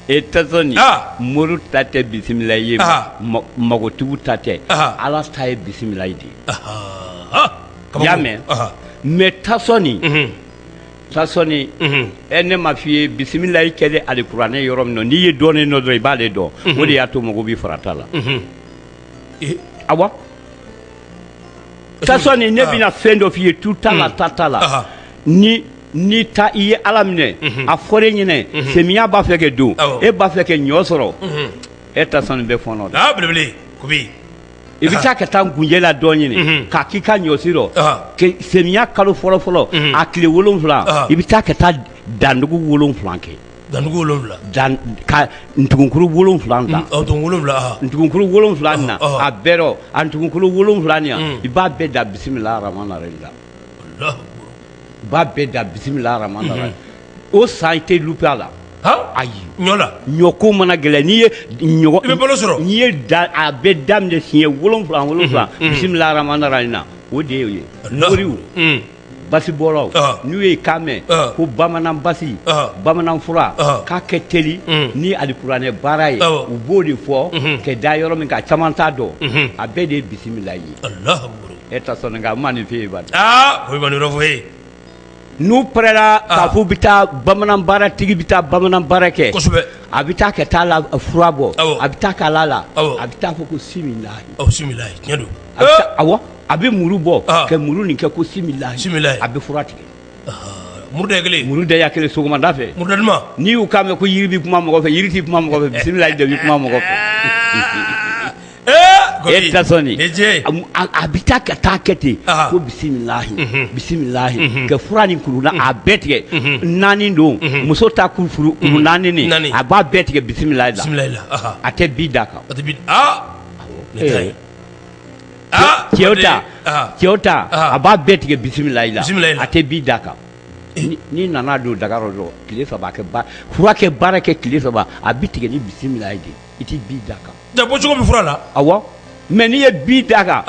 e tasɔni moriw ta tɛ bisimila ye magotigiw ta tɛ ala ta ye bisimilayi de ye i y'a mɛn mɛ tasɔni tasɔni e ne m'a f'i ye bisimilayi kɛlen alikuranɛ yɔrɔ min na n'i ye dɔɔnin dɔn dɔrɔn i b'aale dɔn o de y'a to mɔgɔw bɛ farat'a la awa tasɔni ne bɛna fɛn dɔ f'i ye tu t'a la ta t'a la n'i ta i ye ala minɛ a fɔra e ɲɛna semiya b'a fɛ kɛ don e b'a fɛ kɛ ɲɔ sɔrɔ e tasɔni bɛ fɔɔnɔ de belebele i bɛ taa ka taa gunjɛ ladɔn ɲini k'a k'i ka ɲɔsi rɔ semiya kalo fɔlɔ fɔlɔ a tile wolonwula i bɛ taa ka taa dandugu wolonwula kɛ dandugu wolonwula ka ntugunkuru wolonwula ta ntugunkuru wolonwula na a bɛɛ rɔ a ntugunkuru wolonwula nin i b'a bɛɛ da bisimilahi rahmani rahim la b'a bɛɛ da bisimilahi rahmani rahim o san i tɛ lupe a la ayi ɲɔko mana gɛlɛn n'i ye sɔrɔ n'i ye a bɛ daminɛ siɲɛ wolonwula wolonwula bisimilahi rahmani rahim na o de ye moriw basibɔlaw n'u ye kan mɛn ko bamanan basi bamanan fura k'a ka teli ni alikuranɛ baara ye u b'o de fɔ ka da yɔrɔ min k'a caman t'a dɔn a bɛɛ de ye bisimila ye e tasɔn nka ma nin f'e ye aa ko kulubali fɔ ye n'u pɛrɛla k'a fɔ bɛ taa bamanan baara tigi bɛ taa bamanan baara kɛ kosɛbɛ a bɛ taa ka taa la fura bɔ a bɛ taa ka la la a bɛ taa fɔ ko similahi tiɲɛ don a bɛ muru bɔ ka muru nin kɛ ko similahi a bɛ fura tigɛ muru kelen muru da kelen sɔgɔmada fɛ n'i y'u k'a mɛn ko yiri bɛ kuma mɔgɔ fɛ yiri tɛ kuma mɔgɔ fɛ bisimilahi de bɛ kuma mɔgɔ fɛ A bɛ taa ka taa kɛ ten ko bisimilahi bisimilahi ka fura nin kuru a bɛɛ tigɛ naani don muso ta kuru naani nin a b'a bɛɛ tigɛ bisimilahi la a tɛ bi da kan cɛw ta a b'a bɛɛ tigɛ bisimilahi la a tɛ bi da kan n'i nana don daga rɔ dɔrɔn tile saba fura kɛ baara kɛ tile saba a bɛ tigɛ ni bisimilahi de i tɛ bi da kan da bɔ cogo min fura la awɔ mɛ n'i ye bi da kan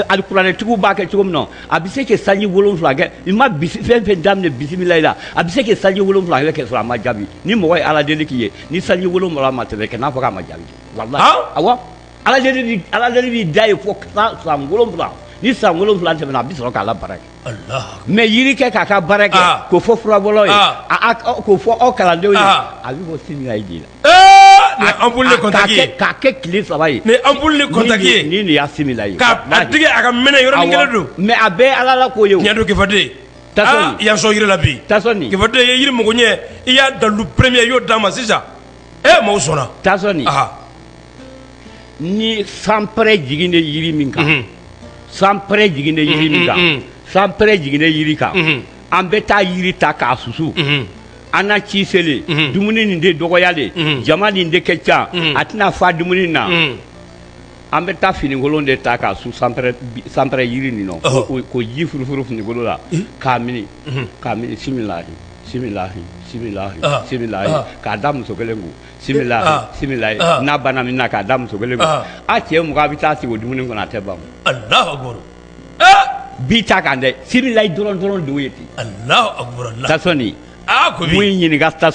alikuranɛtigiw b'a kɛ cogo min na a bɛ se ka sanji wolonwula kɛ i ma fɛn fɛn daminɛ bisimilahi la a bɛ se ka sanji wolonwula kɛ sɔrɔ a ma jaabi ni mɔgɔ ye ala deli k'i ye ni sanji wolonwula ma tɛmɛ kan'a fɔ k'a ma jaabi walahi awɔ ala deli b'i da ye fo san wolonwula ni san wolonwula tɛmɛna a bɛ sɔrɔ k'a la baara kɛ mɛ yiri kɛ k'a ka baara kɛ ah. k'o fɔ furabɔlaw ye ah. k'o fɔ aw kalandenw ye ah. a bɛ bɔ similahi de la eh, an boli kɔntaki ye k'a kɛ tile saba ye mɛ an boli kɔntaki ye ni nin y'a similahi k'a tigɛ a ka mɛnɛ yɔrɔnin kelen don mɛ a bɛɛ ala la ko ye o tiɲɛ don kifaden tasɔn i y'a sɔn yiri la bi tasɔn kifaden i ye yiri mago ɲɛ i y'a dalu premier i y'o d'a ma sisan ee eh, maaw sɔnna tasɔn ni sanpɛrɛ jiginnen yiri min kan sanpɛrɛ jiginnen yiri min kan sanpɛrɛ jiginnen yiri kan an bɛ taa yiri ta k'a susu an na ci selen dumuni nin de dɔgɔyalen jama nin de ka ca a tɛna fa dumuni na an bɛ taa finikolon de ta k'a su sanpɛrɛ yiri nin nɔ ko ji furufuru finikolo la k'a mini k'a mini similahi similahi similahi k'a da muso kelen kun n'a banna min k'a da muso kelen a cɛ mɔgɔ bɛ taa sigi dumuni kɔnɔ a tɛ ban bi ta kan dɛ sibila dɔrɔn dɔrɔn dugu ye ten ko ɲininkakala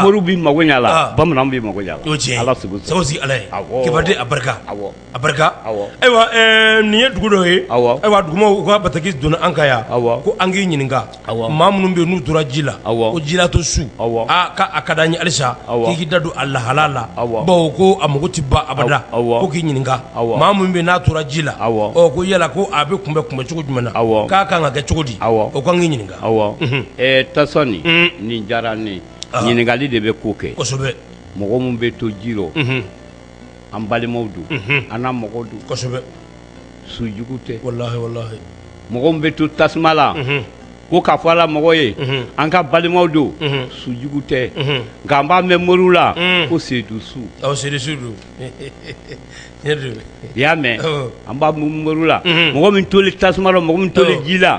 mori bɛ mako ɲɛ la bamanan bɛ mako ala ala barika a barika ayiwa nin ye dugu dɔ ye ayiwa dugumaaw u ka bataki donna an ka yan aw ko an k'i ɲininka aw maa minnu bɛ n'u tora ji la aw ko jilato su aw k'a ka d'an ye halisa i k'i da don a lahala la aw bawo ko a mago tɛ ban abada aw k'i ɲininka aw maa minnu bɛ n'a tora ji la aw ko yala ko a bɛ kunbɛn kunbɛn cogo jumɛn na aw k'a ka kan ka kɛ cogo di aw u k'an k'i ɲininka aw tasɔn nin diyara n ye ɲininkali de bɛ ko kɛ kosɛbɛ mɔgɔ minnu bɛ to ji an balimaw don an na mɔgɔw don kosɛbɛ sujugu tɛ walahi mɔgɔ min bɛ to tasuma la ko k'a fɔ a la mɔgɔ ye an ka balimaw don sujugu tɛ nka an b'a mɛn moriw la ko sedu su don i y'a mɛn an b'a mɛn moriw la mɔgɔ min tolen tasuma la mɔgɔ min tolen ji la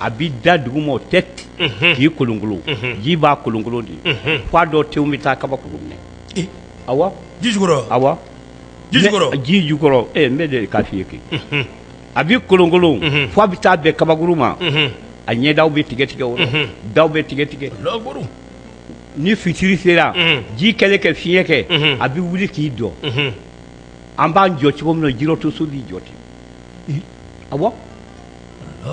a b'i da dugu ma o tɛ ten k'i kolonkolon ji b'a kolonkolon de ye f'a dɔw tenw bɛ taa kabakuru minɛ awɔ ji jukɔrɔ awɔ ji jukɔrɔ n bɛ de k'a f'i ye kɛ a b'i kolonkolon fo a bɛ taa bɛn kabakuru ma a ɲɛdaw bɛ tigɛ tigɛ o rɔ daw bɛ tigɛ tigɛ ni fitiri sera ji kɛlen kɛ fiɲɛ kɛ a bɛ wuli k'i jɔ an b'an jɔ cogo min na jirɔ to su b'i jɔ ten awɔ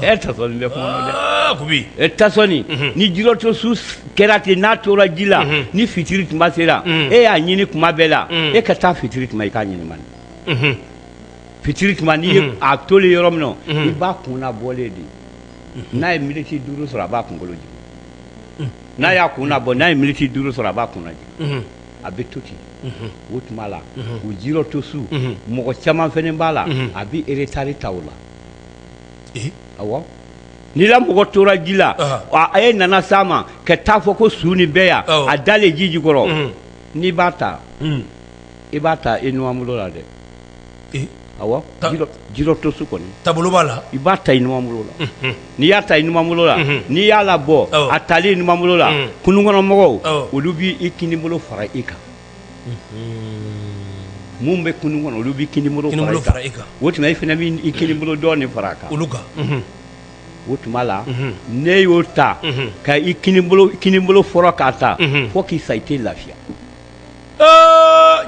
e ta bɛ dɛ e ta ni jirɔ to su kɛra ten n'a tora ji la ni fitiri tuma sera e y'a ɲini kuma bɛɛ la e ka taa fitiri tuma i k'a ɲini fitiri tuma n'i ye a tolen yɔrɔ min na i b'a kun nabɔlen de n'a ye miniti duuru sɔrɔ a b'a kunkolo jigin n'a y'a kun nabɔ n'a ye miniti duuru sɔrɔ a b'a kun najigin a bɛ to ten o tuma la o jirɔ to su mɔgɔ caman fɛnɛ b'a la a bɛ eretari ta o la n'i la mɔgɔ tora ji la a ye nana s'a ma ka t'a fɔ ko su nin bɛ yan a dalen ji jukɔrɔ n'i b'a ta i b'a ta i numanbolo la dɛ jirɔ to su kɔni tabolo b'a la i b'a ta i numanbolo la n'i y'a ta i numanbolo la n'i y'a labɔ a tali i numanbolo la kunun kɔnɔmɔgɔw olu b'i kinibolo fara i kan Minnu bɛ kunun kɔnɔ olu b'i kinibolo fara i kan o tuma i fɛnɛ b'i kinibolo dɔɔnin de fara a kan olu kan o tuma la n'e y'o ta ka i kinibolo fɔlɔ k'a ta fo k'i sa i tɛ lafiya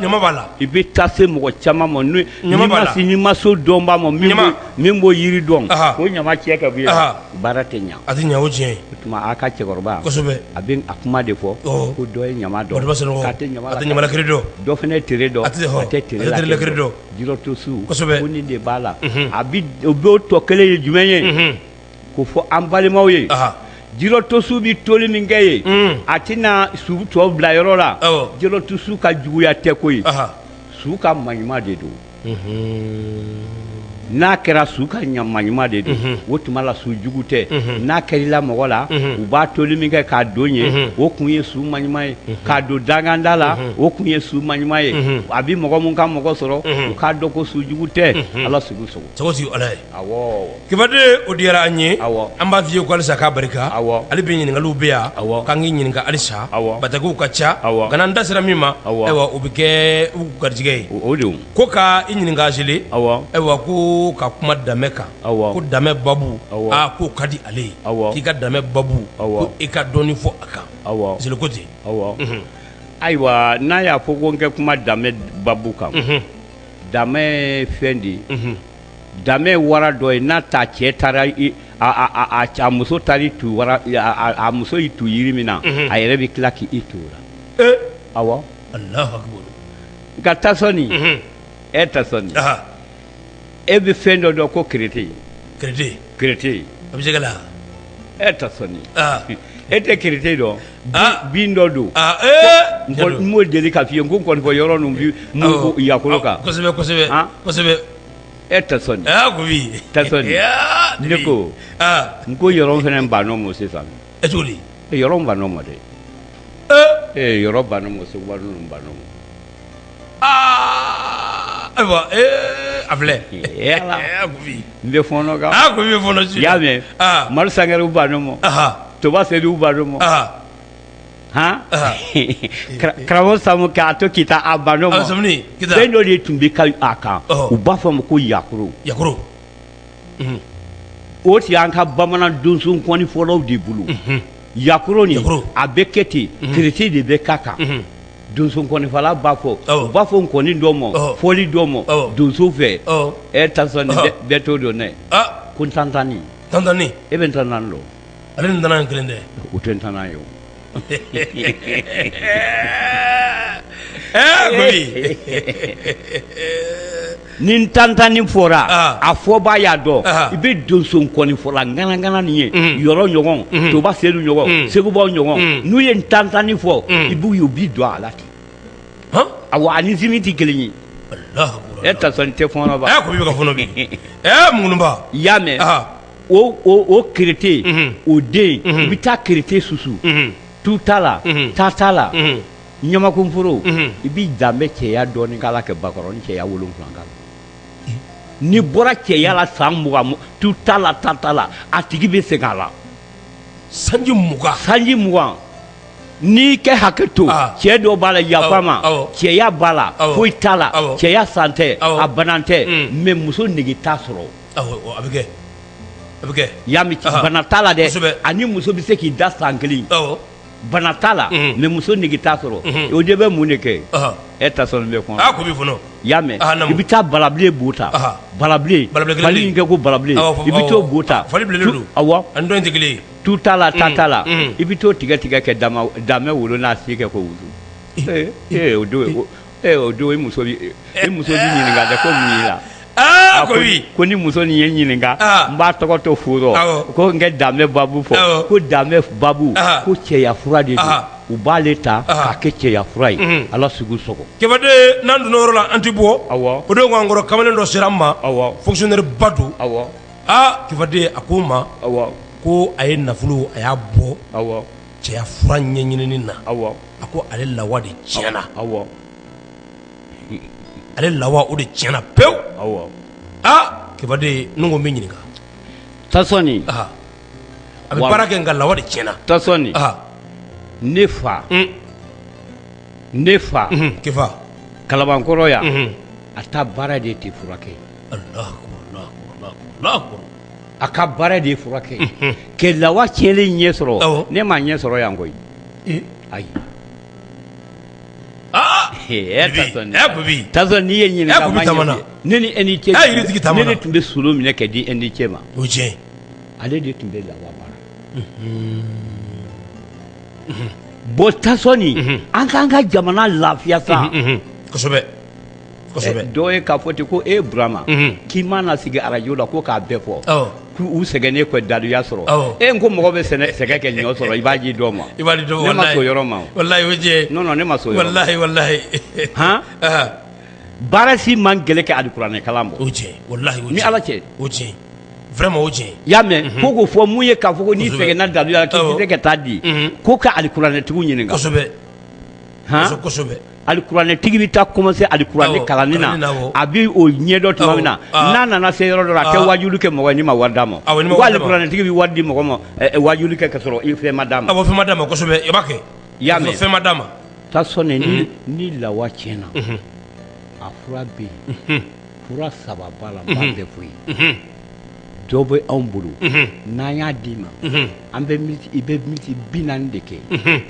ɲama b'a la i bɛ taa se mɔgɔ caman ma n'o ɲama b'a la n'i ma s'o dɔnbaa ma min b'o yiri dɔn k'o ɲama cɛ ka bɔ yen baara tɛ ɲɛ a tɛ ɲɛ o tiɲɛ o tuma a ka cɛkɔrɔba kosɛbɛ a bɛ a kuma de fɔ ko dɔ ye ɲama dɔn a tɛ ɲama lakiri dɔn dɔ fana ye tere dɔn a tɛ tere lakiri dɔn jirɔ to su ko nin de b'a la a b'o tɔ kelen ye jumɛn ye k'o fɔ an balimaw ye jirɔ to su bɛ toli min kɛ ye a tɛna su tɔw bila yɔrɔ la jirɔ to su ka juguya tɛ ko ye su ka maɲuman de don n'a kɛra su ka ɲama ɲuman de don o tuma la su jugu tɛ n'a kɛr'i la mɔgɔ la u b'a toli min kɛ k'a don ye o kun ye su maɲuman ye k'a don danganda la o kun ye su maɲuman ye a bɛ mɔgɔ min ka mɔgɔ sɔrɔ u k'a dɔn ko su jugu tɛ ala sugu sogo kibaden o diyara an ye an b'a f'i ye ko alisa k'a barika ale bɛ ɲininkali bɛ yan k'an k'i ɲininka alisa batakiw ka ca nka an da sera min ma ayiwa o bɛ kɛ garijɛgɛ ye o ko ka i ɲininka zele ayiwa ko ka kuma damɛ kan ko damɛ babu k'o ka di ale ye k'i ka damɛ babu ko i ka dɔɔnin fɔ a kan zele ko ten ayiwa n'a y'a fɔ ko n kɛ kuma damɛ babu kan damɛ fɛn de ye damɛ wara dɔ ye n'a ta cɛ taara muso taara i tu wara muso y'i tu jiri min na a yɛrɛ bɛ tila k'i tu o la awɔ alahu akibaru nka tasɔni e tasɔni e bɛ fɛn dɔ dɔn ko kerete kerete e tasɔni e tɛ kerete dɔn bin dɔ don n m'o deli ka f'i ye n ko kɔnifɔ yɔrɔ ninnu bi yakoro kan e tasɔni ne ko n ko yɔrɔ fana b'a dɔn mɔ sisan e cogo yɔrɔ b'a dɔn mɔ dɛ ee yɔrɔ b'a dɔn mɔ seguba ninnu b'a dɔn mɔ aa ayiwa ee a filɛ ee ala a ko bi n bɛ fɔɔnɔ kan a ko bi fɔlɔ su i y'a mɛn aa madu sangarew b'a dɔn mɔ aha toba seduw b'a dɔn mɔ aha han Aha. Kara- karamɔgɔ samu k'a to k'i ta a b'a dɔn a sɔmini mɔ kita fɛn dɔ de tun bɛ ka a kan Ɔhɔ. u b'a fɔ a ma ko yakoro yakoro o tun y'an ka bamanan donso kɔni fɔlɔw de bolo yakoro nin Yakoro. a bɛ kɛ ten kerete de bɛ k'a kan donso nkɔnifɔla b'a fɔ u b'a fɔ nkɔni dɔ ma fɔli dɔ ma donso fɛ e tasɔni bɛɛ t'o dɔn dɛ ko ntantani ntantani e bɛ ntantani dɔn ale ni ntanan kelen tɛ o tɛ ntanan ye o ni ntantani fɔra a fɔbaa y'a dɔn i bɛ donso nkɔnifɔla ŋanaŋana nin ye yɔrɔ ɲɔgɔn toba sedu ɲɔgɔn segubaw ɲɔgɔn n'u ye ntantani fɔ i b'u ye u b'i don a la ten awɔ a ni zimi tɛ kelen ye e tasɔni tɛ fɔ i bɛ ka fɔnɔ munba i y'a mɛn o kerete o den i bɛ taa kerete susu tu t'a la ta t'a la ɲamakunforo i bɛ damɛ cɛya dɔɔni k'a la ka bakɔrɔnin cɛya wolonwula k'a la n'i bɔra cɛya la san mugan tu t'a la ta t'a la a tigi bɛ segin a la sanji mugan sanji mugan n'i kɛ hakɛ to cɛ dɔ b'a la yafa ma cɛya b'a la foyi t'a la cɛya san tɛ a banan tɛ mais muso nege t'a sɔrɔ a bɛ kɛ a bɛ kɛ i y'a mɛn bana t'a la dɛ ani muso bɛ se k'i da san kelen bana t'a la mais muso nege t'a sɔrɔ o de bɛ mun de kɛ e tasɔni bɛ kuma i y'a mɛn i bɛ taa balabilen bo ta balabilen fali in kɛ ko balabilen i bɛ t'o bo ta awɔ tu t'a la tan t'a la i bɛ t'o tigɛ tigɛ kɛ damɛ wolo n'a si kɛ k'o wusu ee o don Ee o don muso muso ɲininka ko la a ko ko ni muso nin ye ɲininka n b'a tɔgɔ to furu ko n kɛ damɛ babu fɔ ko damɛ babu ko cɛya fura de don u b'ale ta k'a kɛ cɛya fura ye ala sugu sogo kɛbaden n'an donna yɔrɔ la an tɛ bɔ o don k'an kɔrɔ kamalen dɔ sera n ma fonctionnaire ba don kɛbaden a ko n ma ko a ye nafolo a y'a bɔ cɛya fura ɲɛɲinini na a ko ale lawa de tiɲɛna ale lawa o de tiɲɛna pewu aa kibaden n ko n b'i ɲininka tasɔni a bɛ baara kɛ nka lawa de tiɲɛna tasɔni ne fa ne fa kɛ kalabankɔrɔ yan a ta baara de tɛ furakɛ a ka baara de ye furakɛ kɛ lawa tiɲɛlen ɲɛ sɔrɔ ne m'a ɲɛ sɔrɔ yan koyi ayi n'i ye ɲininka ne ni e ni cɛ ne tun bɛ so minɛ kɛ di e ni cɛ ma o tiɲɛ ale de tun bɛ lawa baara bɔ tasɔni an k'an ka jamana lafiya sa kosɛbɛ dɔw ye k'a fɔ ten ko e Burama k'i mana sigi arajo la ko k'a bɛɛ fɔ k'u sɛgɛnnen kɔ daluya sɔrɔ e n ko mɔgɔ bɛ sɛgɛn kɛ ɲɔ sɔrɔ i b'a di dɔ ma ne ma se o yɔrɔ ma non non ne ma se o yɔrɔ ma baara si man gɛlɛn ka alikuranɛ kalan bɔ ni Ala cɛ vraiment i y'a mɛn ko k'o fɔ mun ye k'a fɔ ko n'i sɛgɛnna daluya la k'i tɛ se ka taa di ko ka alikuranɛtigiw ɲininka. alikuranɛtigi bɛ taa kɔmanse alikuranɛ kalanni na a bɛ o ɲɛdɔn tuma min na n'a nana se yɔrɔ dɔ la a tɛ wajulu kɛ mɔgɔ ye n'i ma wari d'a ma alikuranɛtigi bɛ wari di mɔgɔ ma wajulu kɛ ka sɔrɔ i fɛn ma d'a ma fɛn ma d'a ma kosɛbɛ i y'a mɛn fɛn ma d'a ma tasɔni ni lawa tiɲɛna a fura bɛ yen fura saba b'a la n b'a bɛɛ fɔ i ye dɔ bɛ anw bolo n'an y'a d'i ma an bɛ i bɛ miniti bi naani de kɛ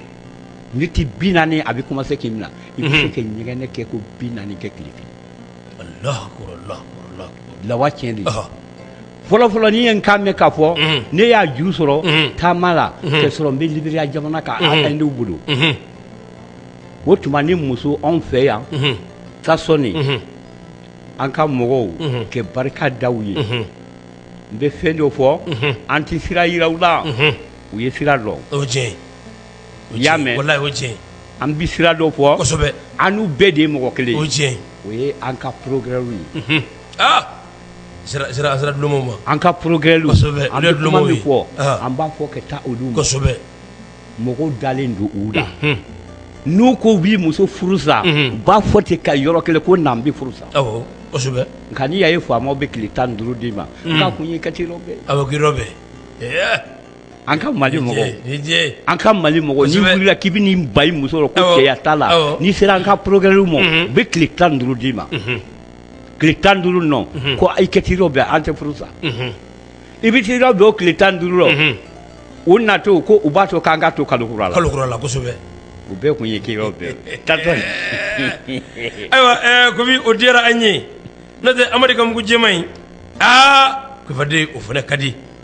miniti bi naani a bɛ kɔmanse k'i minɛ i bɛ se ka ɲɛgɛnɛ kɛ ko bi naani kɛ tile kelen lawa tiɲɛ de fɔlɔfɔlɔ n'i ye n kan mɛn k'a fɔ ne y'a juru sɔrɔ taama la ka sɔrɔ n bɛ Liberiya jamana kan an denw bolo o tuma ni muso anw fɛ yan tasɔni an ka mɔgɔw kɛ barika da u ye n bɛ fɛn dɔ fɔ an tɛ sira yira u la u ye sira dɔn i y'a mɛn walahi o ye tiɲɛ ye, an bɛ sira dɔ fɔ, kosɛbɛ, an n'u bɛɛ de ye mɔgɔ kelen ye, o ye tiɲɛ ye, o ye an ka procureurw ye, unhun, aa sira sira sira dulonmaw ma, an ka procureurw kosɛbɛ, an bɛ kuma min fɔ an b'a fɔ ka taa olu ma, kosɛbɛ, mɔgɔw dalen don u la, unhun, n'u ko u b'i muso furu sa, unhun, u b'a fɔ ten ka yɔrɔ kelen ko na an bɛ furu sa, awɔ, kosɛbɛ, nka n'i y'a ye faamaw bɛ tile tan ni duuru d'i ma, unhun, k'a kun ye i ka t'i yɔrɔ bɛɛ, awɔ k'i yɔrɔ bɛɛ, ee An ka mali an ka mali mɔgɔw n'i wulila k'i bɛn'i ban i muso rɔ ko cɛya t'a la n'i sera an ka procureur ma u bɛ tile tan duuru d'i ma tile tan duuru nɔ ko ayi i ka t'i yɔrɔ bɛɛ an tɛ furu sa i bɛ t'i yɔrɔ bɛɛ o tile tan duuru la u na to ko u b'a to k'an ka to kalo kura la kosɛbɛ o bɛɛ kun ye ke ayiwa komi o diyara an ye n'o tɛ amadu ka mugu jɛman in kefaden o fana ka di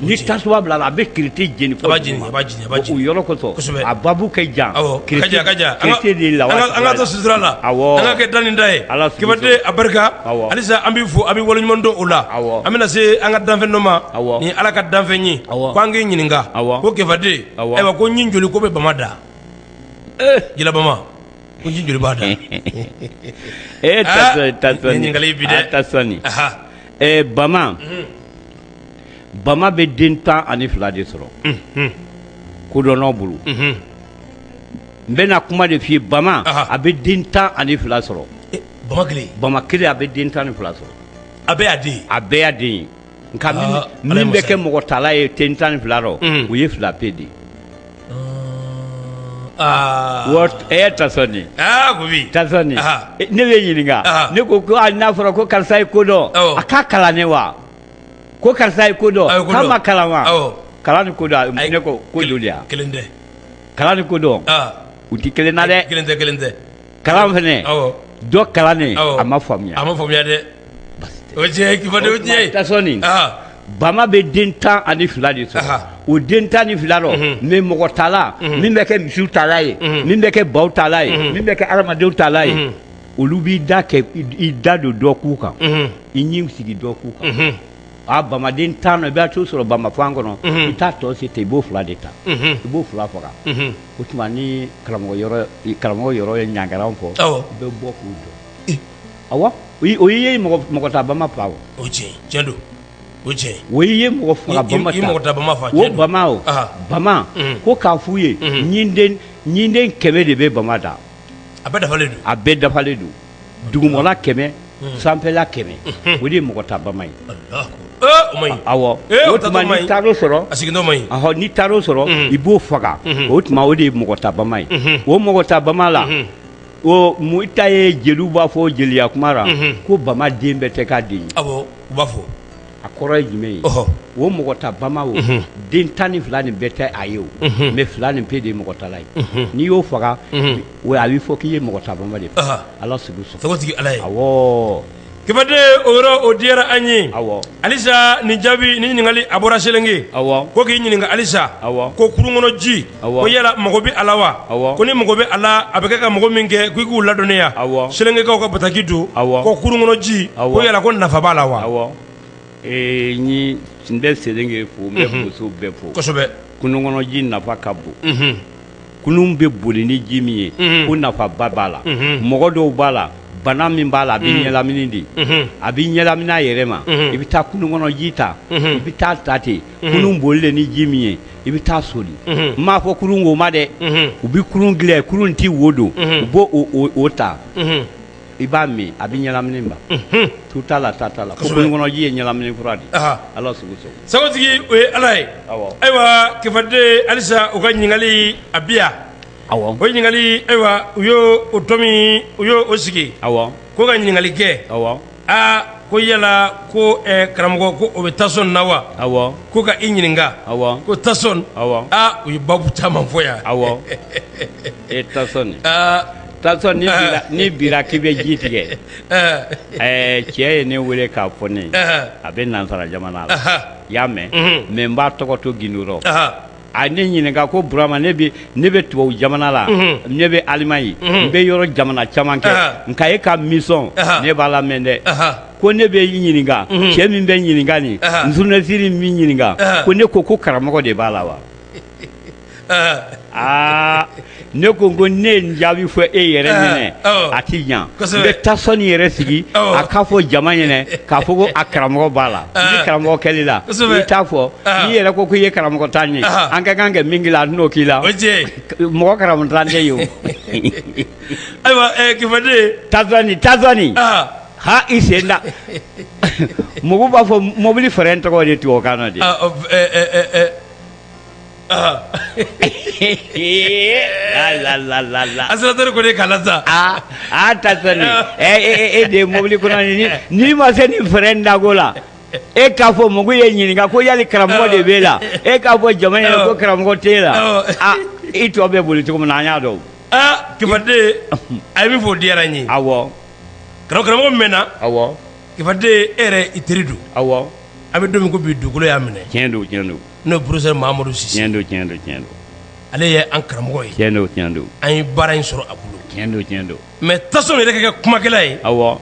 ni tasuma bilala a bɛ kite jeni b'a babu kɛ ja an ka to sutura la an ka kɛ da ni da ye kefaden a barika halisa an b'i fo an b'i waleɲumandɔn o la an bɛna se an ka danfɛn dɔ ma ni ala ka danfɛn ye ko an k'i ɲininka ko kefaden ayiwa ko ɲin joli ko bɛ bama da jila bama ko ɲin joli b'a da ee ɲininkali dɛ bama bama bɛ den tan ani fila de sɔrɔ kodɔnnaw bolo n bɛna kuma de f'i ye bama a bɛ den tan ani fila sɔrɔ bama kelen a bɛ den tan ni fila sɔrɔ a bɛɛ y'a den ye nka min bɛ kɛ mɔgɔ tala ye den tan ni fila rɔ o ye fila pe de ye tasɔni ne b'i ɲininka ne ko n'a fɔra ko karisa ye ko dɔn a ka kalan ne wa ko karisa ye ko dɔn a ye ko dɔn. k'a ma kalan wa Awɔ. kalan ni ko dɔn a- ne ko ko joli a kelen tɛ kalan ni ko dɔn aa u tɛ kelen na dɛ kelen tɛ kelen tɛ kalan fɛnɛ awɔ dɔ kalannen Awɔ. a ma faamuya a ma faamuya dɛ o ye tiɲɛ ye kefaden o ye tiɲɛ ye tasɔni aa bama bɛ den tan ani fila de sɔrɔ Aha. o den tan ni fila rɔ Mhm. mɛ mɔgɔ tala min bɛ kɛ misiw tala ye Mhm. min bɛ kɛ baw tala ye Mhm. min bɛ kɛ adamadenw tala ye Mhm. olu b'i da kɛ i da don dɔ kun kan i ɲin sigi dɔ kun kan a bamaden tan i b'a tɔ sɔrɔ bamafan kɔnɔ i t'a tɔ se ten i b'o fila de ta i b'o fila faga o tuma ni karamɔgɔ karamɔgɔ yɔrɔ ye ɲangaran fo i bɛ bɔ k'u jɔ a o ye mɔgɔ ta bama faa o tiɲɛ don o tiɲɛ o ye mɔgɔ faga bama o bama ko k'a f'u ye ɲinden kɛmɛ de bɛ bama da a bɛɛ dafalen don, a bɛɛ dafalen don, dugumala kɛmɛ sanfɛla kɛmɛ o de ye mɔgɔ ta bama ye, Alahu akbar, o man ɲi, awɔ, o tuma n'i taar'o sɔrɔ, a sigilen man ɲi, ɔhɔ, n'i taar'o sɔrɔ i b'o faga o tuma o de ye mɔgɔ ta bama ye, o mɔgɔ ta bama la o mun ta ye jeliw b'a fɔ jeliya kuma ra ko bama den bɛɛ tɛ k'a den ye, awɔ, u b'a fɔ a kɔrɔ ye jumɛn ye o mɔgɔ ta bama o den tan ni fila nin bɛɛ tɛ a ye o mais fila nin pe de ye mɔgɔ tala ye n'i y'o faga o a bɛ fɔ k'i ye mɔgɔ ta bama de ala sagotigi ala ye Kɛfaden o yɔrɔ o diyara an ye halisa nin jaabi ni ɲininkali a bɔra selenge ko k'i ɲininka halisa ko kurun kɔnɔ ji ko yala mago bɛ a la wa ko ni mago bɛ a la a bɛ kɛ ka mago min kɛ k'i k'u ladɔnniya selengekaw ka bataki don ko kurun kɔnɔ ji ko yala ko nafa b'a la wa n n bɛ selenge fo n bɛ boso bɛɛ fo kosɛbɛ kunun kɔnɔji nafa ka bon kunun bɛ boli ni ji min ye ko nafa ba b'a la mɔgɔ dɔw b'a la bana min b'a la a bɛ ɲɛlamini de a bɛ ɲɛlamini a yɛrɛ ma i bɛ taa kunun kɔnɔji ta i bɛ taa ta ten kunun bolilen ni ji min ye i bɛ taa soli n m'a fɔ kurun wo ma dɛ u bɛ kurun dilan kurun tɛ wo don u b'o ta i b'a min a bɛ ɲɛlamini ban tu t'a la ta t'a la ko kunun kɔnɔji ye ɲɛlamini fura de ala sugu sagotigi o ye ala ye ayiwa Kɛfaden halisa u ka ɲininkali a bi yan o ɲininkali ayiwa u y'o tɔmɔ u y'o sigi ko ka ɲininkali kɛ aa ko yala ko karamɔgɔ ko o bɛ tasɔn na wa ko ka i ɲininka ko tasɔn u ye babu caman fɔ yan e tasɔn ni bira k'i bɛ ji tigɛ cɛ ye ne weele k'a fɔ ne a bɛ nansara jamana la i y'a mɛn mais n b'a tɔgɔ to gundo rɔ a ne ɲininka ko Burama ne bɛ ne bɛ tubabu jamana la ne bɛ Alimaɲi n bɛ yɔrɔ jamana caman kɛ nka e ka émission ne b'a lamɛn dɛ ko ne bɛ i ɲininka cɛ min bɛ ɲininka nin journaliste min bɛ ɲininka ko ne ko ko karamɔgɔ de b'a la wa aa ne ko ko ne ye jaabi fɔ e yɛrɛ ah, ɲɛnɛ oh. a tɛ ɲan n bɛ tasɔni yɛrɛ sigi oh. a k'a fɔ jama ɲɛnɛ k'a fɔ ko a karamɔgɔ b'a la ah. ni karamɔgɔ kɛl'i la i t'a fɔ ah. n'i yɛrɛ ko k'i ye karamɔgɔntan ye an ka kan kɛ min k'i la a n'o k'i la mɔgɔ karamɔgɔntan tɛ yen o ayiwa eh, Kɛfaden tasɔni tasɔni ha i sen da mɔgɔw b'a fɔ mɔbili fɛrɛn tɔgɔ de tubabukan na de accélérateur ko de kala sa aa aa tasɔni e de mobili kɔnɔ n'i ma se ni frein dako la e k'a fɔ mɔgɔw ye ɲininka ko yali karamɔgɔ de b'e la e k'a fɔ jama ɲɛna ko karamɔgɔ tɛ e la i tɔ bɛ boli cogo min na an y'a dɔn aa kifaden a ye min fɔ diyara n ye awɔ karamɔgɔ min na awɔ kifaden e yɛrɛ i teri don awɔ a bɛ don min ko bi dugukolo y'a minɛ tiɲɛ don tiɲɛ don n'o ye professeur mamadu sise tiɲɛ don ale ye an karamɔgɔ ye tiɲɛ don an ye baara in sɔrɔ a bolo tiɲɛ don mais tasɔni yɛrɛ kɛ kumakɛla ye awɔ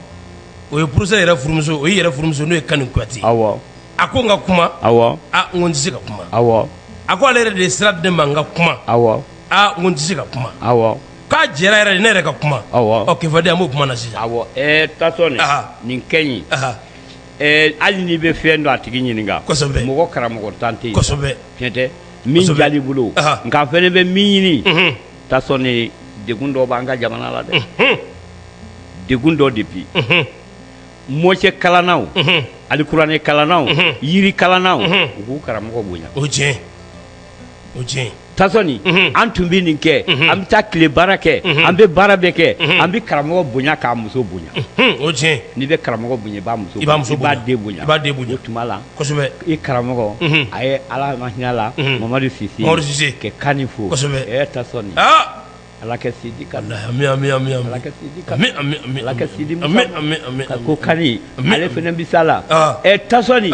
o ye professeur yɛrɛ furumuso o yɛrɛ furumuso n'o ye kani kuyate awɔ a ko n ka kuma awɔ n ko n tɛ se ka kuma awɔ a ko ale yɛrɛ de ye sira di n ma n ka kuma awɔ n ko n tɛ se ka kuma awɔ k'a jɛra yɛrɛ de ne yɛrɛ ka kuma awɔ kifaden an b'o kuma na sisan awɔ nin ka ɲi Hali n'i bɛ fɛn dɔn a tigi ɲininka mɔgɔ karamɔgɔntan tɛ fɛn tɛ min jali bolo nka fɛnɛ bɛ min ɲini tasɔni degun dɔ bɛ an ka jamana la dɛ degun dɔ depuis mɔcɛ kalannaw alikuranɛ kalannaw yiri kalannaw u k'u karamɔgɔ bonya o cɛ o tiɲɛ tasɔni an tun bɛ nin kɛ an bɛ taa tile baara kɛ an bɛ baara bɛɛ kɛ an bɛ karamɔgɔ bonya k'a muso bonya o n'i bɛ karamɔgɔ bonya i b'a muso muso b'a den bonya b'a den bonya o tuma la i karamɔgɔ a ye ala ma hinɛ la mamadu sise ka kani fo tasɔni ala ka si di ka si di ko kani ale fana bɛ sa la ɛ tasɔni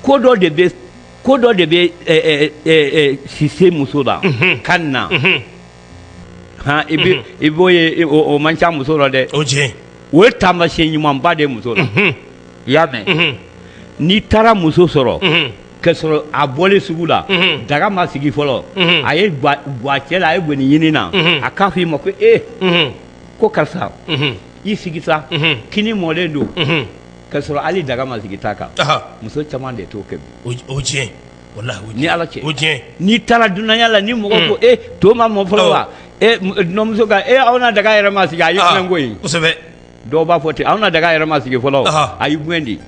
ko dɔ de bɛ ko dɔ de bɛ sise muso la kani na hɔn i bɛ i b'o ye o man ca muso la dɛ o tiɲɛ o ye taamasiyɛn ɲumanba de muso la i y'a mɛn n'i taara muso sɔrɔ k'a sɔrɔ a bɔlen sugu la daga ma sigi fɔlɔ a ye gwakɛ la a ye gɔni ɲini na a k'a fɔ i ma ko e ko karisa i sigi sa kini mɔlen don k'a sɔrɔ hali daga ma sigi ta kan muso caman de t'o kɛ bi walahi ni ala cɛ n'i taara dunanya la ni mɔgɔ ko e to ma mɔ fɔlɔ wa e muso e an na daga yɛrɛ ma sigi a ko dɔw b'a fɔ ten an na daga yɛrɛ ma sigi fɔlɔ a y'i gɛn di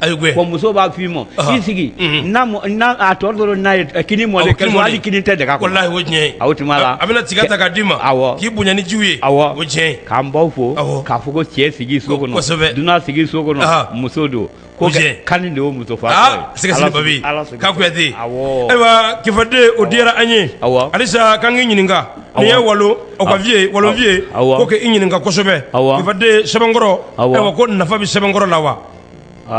muso b'a fɔ i ma i sigi a tɔ dɔrɔn n'a ye kini mɔ hali kini tɛ daga la o tuma la a bɛna tiga ta k'a d'i ma k'i bonya ni ji ye K'an baw fo k'a fɔ ko cɛ sigi so kɔnɔ dunan sigi so kɔnɔ muso don ko kani de y'o muso sɛgɛsɛgɛbabi ka kuyate ayiwa kifaden o diyara an ye halisa k'an k'i ɲininka nin ye walo o ka vie walo vie ko k'i ɲininka kosɛbɛ kifaden sɛbɛnkɔrɔ ayiwa ko nafa bɛ sɛbɛnkɔrɔ la wa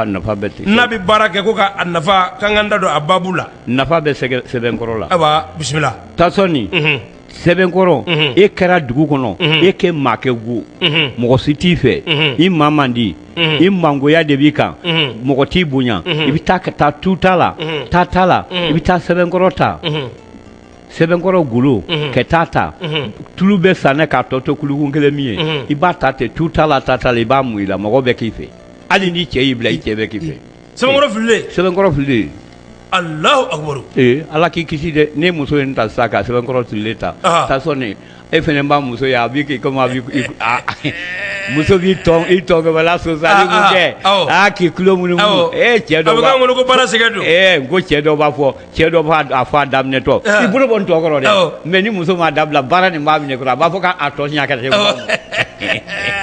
nafa bɛ ten n'a bɛ baara kɛ ko ka nafa k'an k'an da don a baabu la nafa bɛ sɛbɛnkɔrɔ la ayiwa bisimila tasɔni sɛbɛnkɔrɔ e kɛra dugu kɔnɔ e kɛ maa ka go mɔgɔ si t'i fɛ i maa man di i mangoya de b'i kan mɔgɔ t'i bonya i bɛ taa ka taa tuta la ta t'a la i bɛ taa sɛbɛnkɔrɔ ta sɛbɛnkɔrɔ golo ka taa ta tulu bɛ san ne k'a tɔ to kulukun kelen min ye i b'a ta ten tu ta la ta ta la i b'a mun i la mɔgɔ bɛ k'i fɛ hali ni cɛ y'i bila i cɛ bɛ k'i fɛ sɛbɛnkɔrɔ fililen sɛbɛnkɔrɔ fililen Alahu akibaru ee Ala k'i kisi dɛ ni muso ye nin ta sa ka sɛbɛnkɔrɔ fililen ta ɔhɔ tasɔni e fana b'a muso ye a b'i k'i comme a b'i i a muso b'i tɔn i tɔɔgɔbɛla sosali mun kɛ Aa, aa, awɔ. aa k'i tulo munumunu Awɔ. ee cɛ a dɔ bɛ b'a k'an kɔnɔ ko baara sɛgɛn don ee n ko cɛ dɔ b'a fɔ cɛ dɔ b'a a fɔ a daminɛtɔ Aa. i bolo bɔ n tɔn kɔrɔ dɛ Awɔ. mais ni muso m'a dabila baara nin b'a minɛ kɔrɔ a b'a fɔ k'a tɔ siɲɛ ka se Awɔ.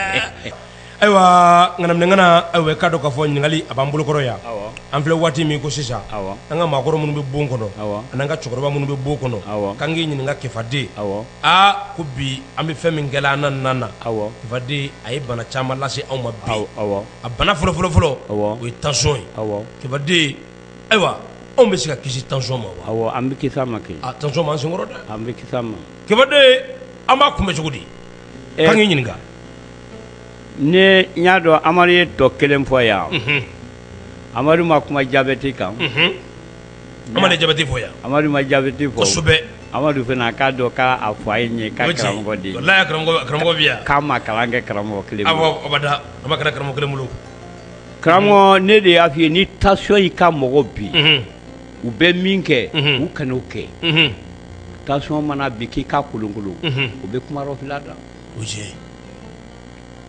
ayiwa ŋanaminɛŋana aw k'a dɔn k'a fɔ ɲininkali a b'an bolokɔrɔ yan an filɛ waati min ko sisan an ka maakɔrɔ minnu bɛ bon kɔnɔ an'an ka cɛkɔrɔba minnu bɛ bon kɔnɔ k'an k'i ɲininka kifaden aa ko bi an bɛ fɛn min kɛla an na na na kifaden a ye bana caman lase anw ma bi a bana fɔlɔ fɔlɔfɔlɔ o ye tension ye kifaden ayiwa anw bɛ se ka kisi tension ma wa an bɛ kisi a ma kɛ tension b'an senkɔrɔ dɛ an bɛ kisi a ma kifaden an b'a kunbɛn cogo di Ɛɛ, k'an k'i ɲininka ne n y'a dɔn amadu ye tɔ kelen fɔ yan Unhun, amadu ma kuma jabɛti kan unhun. amadu ye jabɛti fɔ yan amadu ma jabɛti fɔ kosɛbɛ amadu fana k'a dɔn k'a fɔ a ye ne ka o ye tiɲɛ karamɔgɔ de ye walayi a karamɔgɔ karamɔgɔ bɛ yan k'an ma kalan kɛ karamɔgɔ kelen bolo. awɔ abada an ma kalan karamɔgɔ kelen bolo karamɔgɔ ne de y'a f'i ye ni tension y'i ka mɔgɔ bin Unhun. u bɛ min kɛ u kan'o kɛ tension mana bin k'i ka kolonkolon u bɛ kuma rɔfila da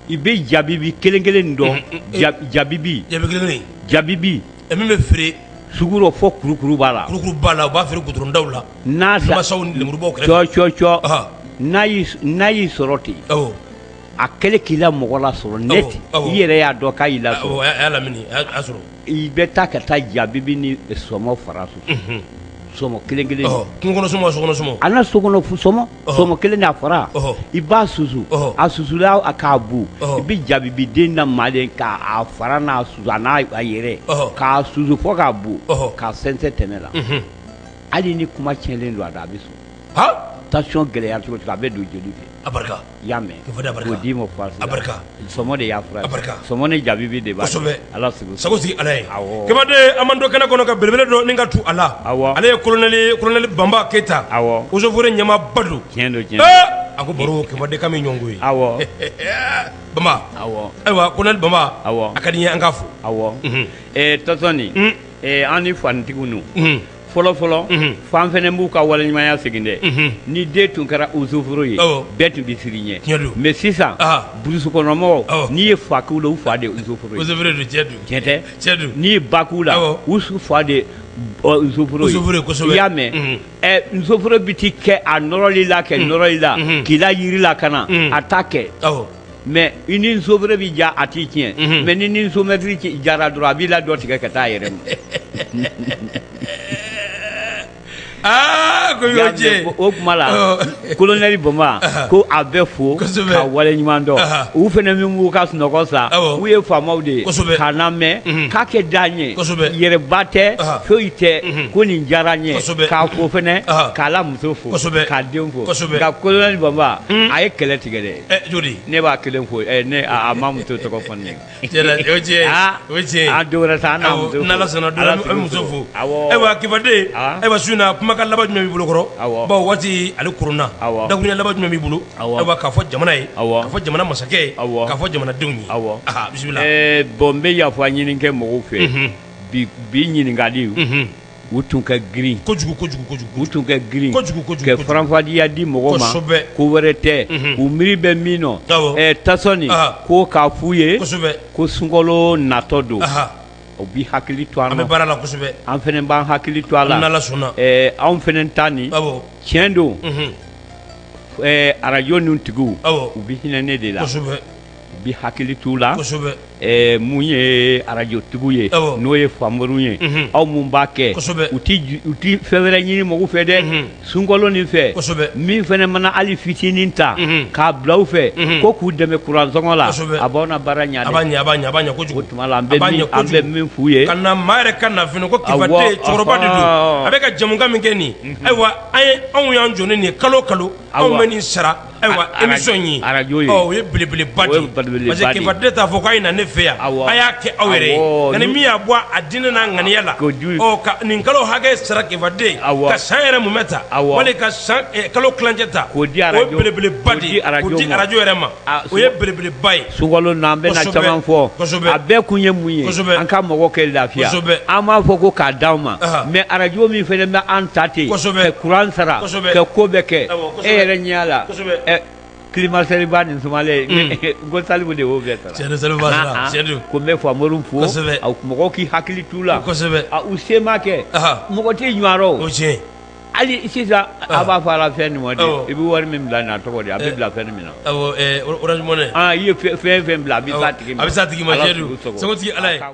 i bɛ jabibi kelen kelen dɔn jabibi jabibi min bɛ feere sugu rɔ fɔ kurukuru b'a la la u b'a feere goudron da la n'a n'a y'i sɔrɔ ten a kɛlen k'i la mɔgɔ lasɔrɔ net i yɛrɛ y'a dɔn k'a y'i la i bɛ taa ka taa jabibi ni sɔmɔ fara susu sɔmɔ kelen kelen an na sokɔnɔ sɔmɔ kelen n'a fara i b'a susu a susula k'a bu i bɛ jabibi den na malen k'a fara n'a susu a n'a yɛrɛ k'a susu fɔ k'a bu k'a sɛnsɛn tɛmɛ la hali ni kuma tiɲɛlen don a da a bɛ sɔn tension gɛlɛya cogo a bɛ don joli fɛ i y'a mɛn, k'o da barika, k'o d'i ma faramasi la, a barika, sɔmɔ de y'a fura ye, a barika, sɔmɔ ni jabibi de b'a la, kosɛbɛ, Ala sago i sago sigi Ala ye, awɔ, Kifaden an b'an to kɛnɛ kɔnɔ ka belebele dɔ nin ka tu a la, awɔ, ale ye kolonɛli ye kolonɛli Banba Keyita, awɔ, eaux et forêts ɲɛmaaba don, tiɲɛ don, tiɲɛ don, ee a ko baro Kifaden k'an bɛ ɲɔgɔn ye, awɔ, Banba, awɔ, ayiwa kolonɛli Banba, awɔ, a ka di n ye an k'a fo, awɔ, unhun, ee Tɔsɔni, un, ee an ni fanitigiw ninnu, unhun fɔlɔ fɔlɔ Unhun. f'an fɛnɛ b'u ka waleɲumanya segin dɛ Unhun. ni den tun kɛra usuforo ye Awɔ. bɛɛ tun bɛ siran i ɲɛ Tiɲɛ don. mais sisan Aha. burusukɔnɔmɔgɔw Awɔ. n'i ye fa k'u la u fa de ye usuforo ye Usuforo don tiɲɛ don. tiɲɛ tɛ Tiɲɛ don. n'i ye ba k'u la Awɔ. u fa de ye ɔ, usuforo ye Usuforo ye kosɛbɛ. i y'a mɛn Unhun. ɛ usuforo bi t'i kɛ a nɔrɔli la kɛ nɔrɔli la Unhun. k'i la yiri la ka na Unhun. a t'a kɛ Awɔ. mais i ni usuforo bɛ diya a t'i tiɲɛ Mhm. mais n'i ni nsomɛtiri ci- diyara dɔrɔn a b'i la dɔ tigɛ ka taa a yɛrɛ ma aa ko y'o Y'a tiɲɛ mɛn, o o tuma la Ɔ. kolonɛli Banba ko a bɛ fo Kosɛbɛ. ka wale ɲuman dɔn Aha. u fana min b'u ka sunɔgɔ sa Awɔ. u ye faamaw de ye Kosɛbɛ. k'a lamɛn Mhm. k'a kɛ da ɲɛ Kosɛbɛ. yɛrɛba tɛ Aha. foyi tɛ Mhm. ko nin diyara n ye Kosɛbɛ. k'a fo fana Aha. k'a la muso fo Kosɛbɛ. k'a den fo Kosɛbɛ. nka kolonɛli Banba a ye kɛlɛ tigɛ dɛ ne b'a kelen fo ne ma muso tɔgɔ fɔ ne muso fo ayiwa Kifaden ayiwa su in na kumakan laban jumɛn b'i bolo kɔrɔ bawo waati ale kurunna dakuruɲɛ laban jumɛn b'i bolo ayiwa k'a fɔ jamana ye k'a fɔ jamana masakɛ ye k'a fɔ jamanadenw ye aw bisimila bon n bɛ yafa ɲini kɛ mɔgɔw fɛ bi ɲininkali u tun ka girin kojugu kojugu kojugu u tun ka girin kojugu kojugu ka faranfasiya di mɔgɔ ma kosɛbɛ ko wɛrɛ tɛ u miiri bɛ min nɔ awɔ ɛ Tasɔni ko k'a f'u ye kosɛbɛ ko sunkalo natɔ don u bɛ hakili to an na an bɛ baara la kosɛbɛ an fana b'an hakili to a la n'Ala sɔnna ɛ anw fana ta nin awɔ tiɲɛ don ɛ arajo ninnu tigiw awɔ u bɛ hinɛ ne de la kosɛbɛ bi hakili t'u la mun ye arajotigiw ye n'o ye Famoriw ye aw minnu b'a kɛ u tɛ fɛn wɛrɛ ɲini mɔgɔw fɛ dɛ sunkalo nin fɛ min fana mana hali fitinin ta k'a bila u fɛ ko k'u dɛmɛ kuransɔngɔ la a b'aw na baara ɲa o tuma la an bɛ min f'u ye ka na maa yɛrɛ ka na fɛnɛ ko Kifaden cɛkɔrɔba de don a bɛ ka jamukan min kɛ nin ayiwa an ye anw y'an jɔ ni nin kalo kalo anw bɛ nin sara Ayiwa émission ye arajo o ye belebele ba parce que Kifaden t'a fɔ k'a ye na ne fɛ yan a y'a kɛ aw yɛrɛ ye nka ni min y'a bɔ a diinɛ n'a ŋaniya la ka nin kalo hakɛ sara Kifaden ka san yɛrɛ mumɛ ta wali ka san kalo tilancɛ ta o belebele ba di arajo yɛrɛ ma o ye belebele ba ye so n'an bɛna caman fɔ a bɛɛ kun ye mun ye an ka mɔgɔ kɛ lafiya an m'a fɔ ko k'a d'anw ma mais arajo min fana bɛ an ta ten ka kuran sara ka ko bɛɛ kɛ e yɛrɛ ɲɛ la kilimatisɛriba nin sumalen ko salifu de y'o bɛɛ sara ko n bɛ famori fo mɔgɔw k'i hakili t'u la u se ma kɛ mɔgɔ tɛ ɲɔgɔn hali sisan a b'a fɔ a la fɛn nin ma de i bɛ wari min bila n'a tɔgɔ di a bɛ bila fɛn min na orange money i ye fɛn fɛn bila a bɛ s'a tigi ma sɛdu ala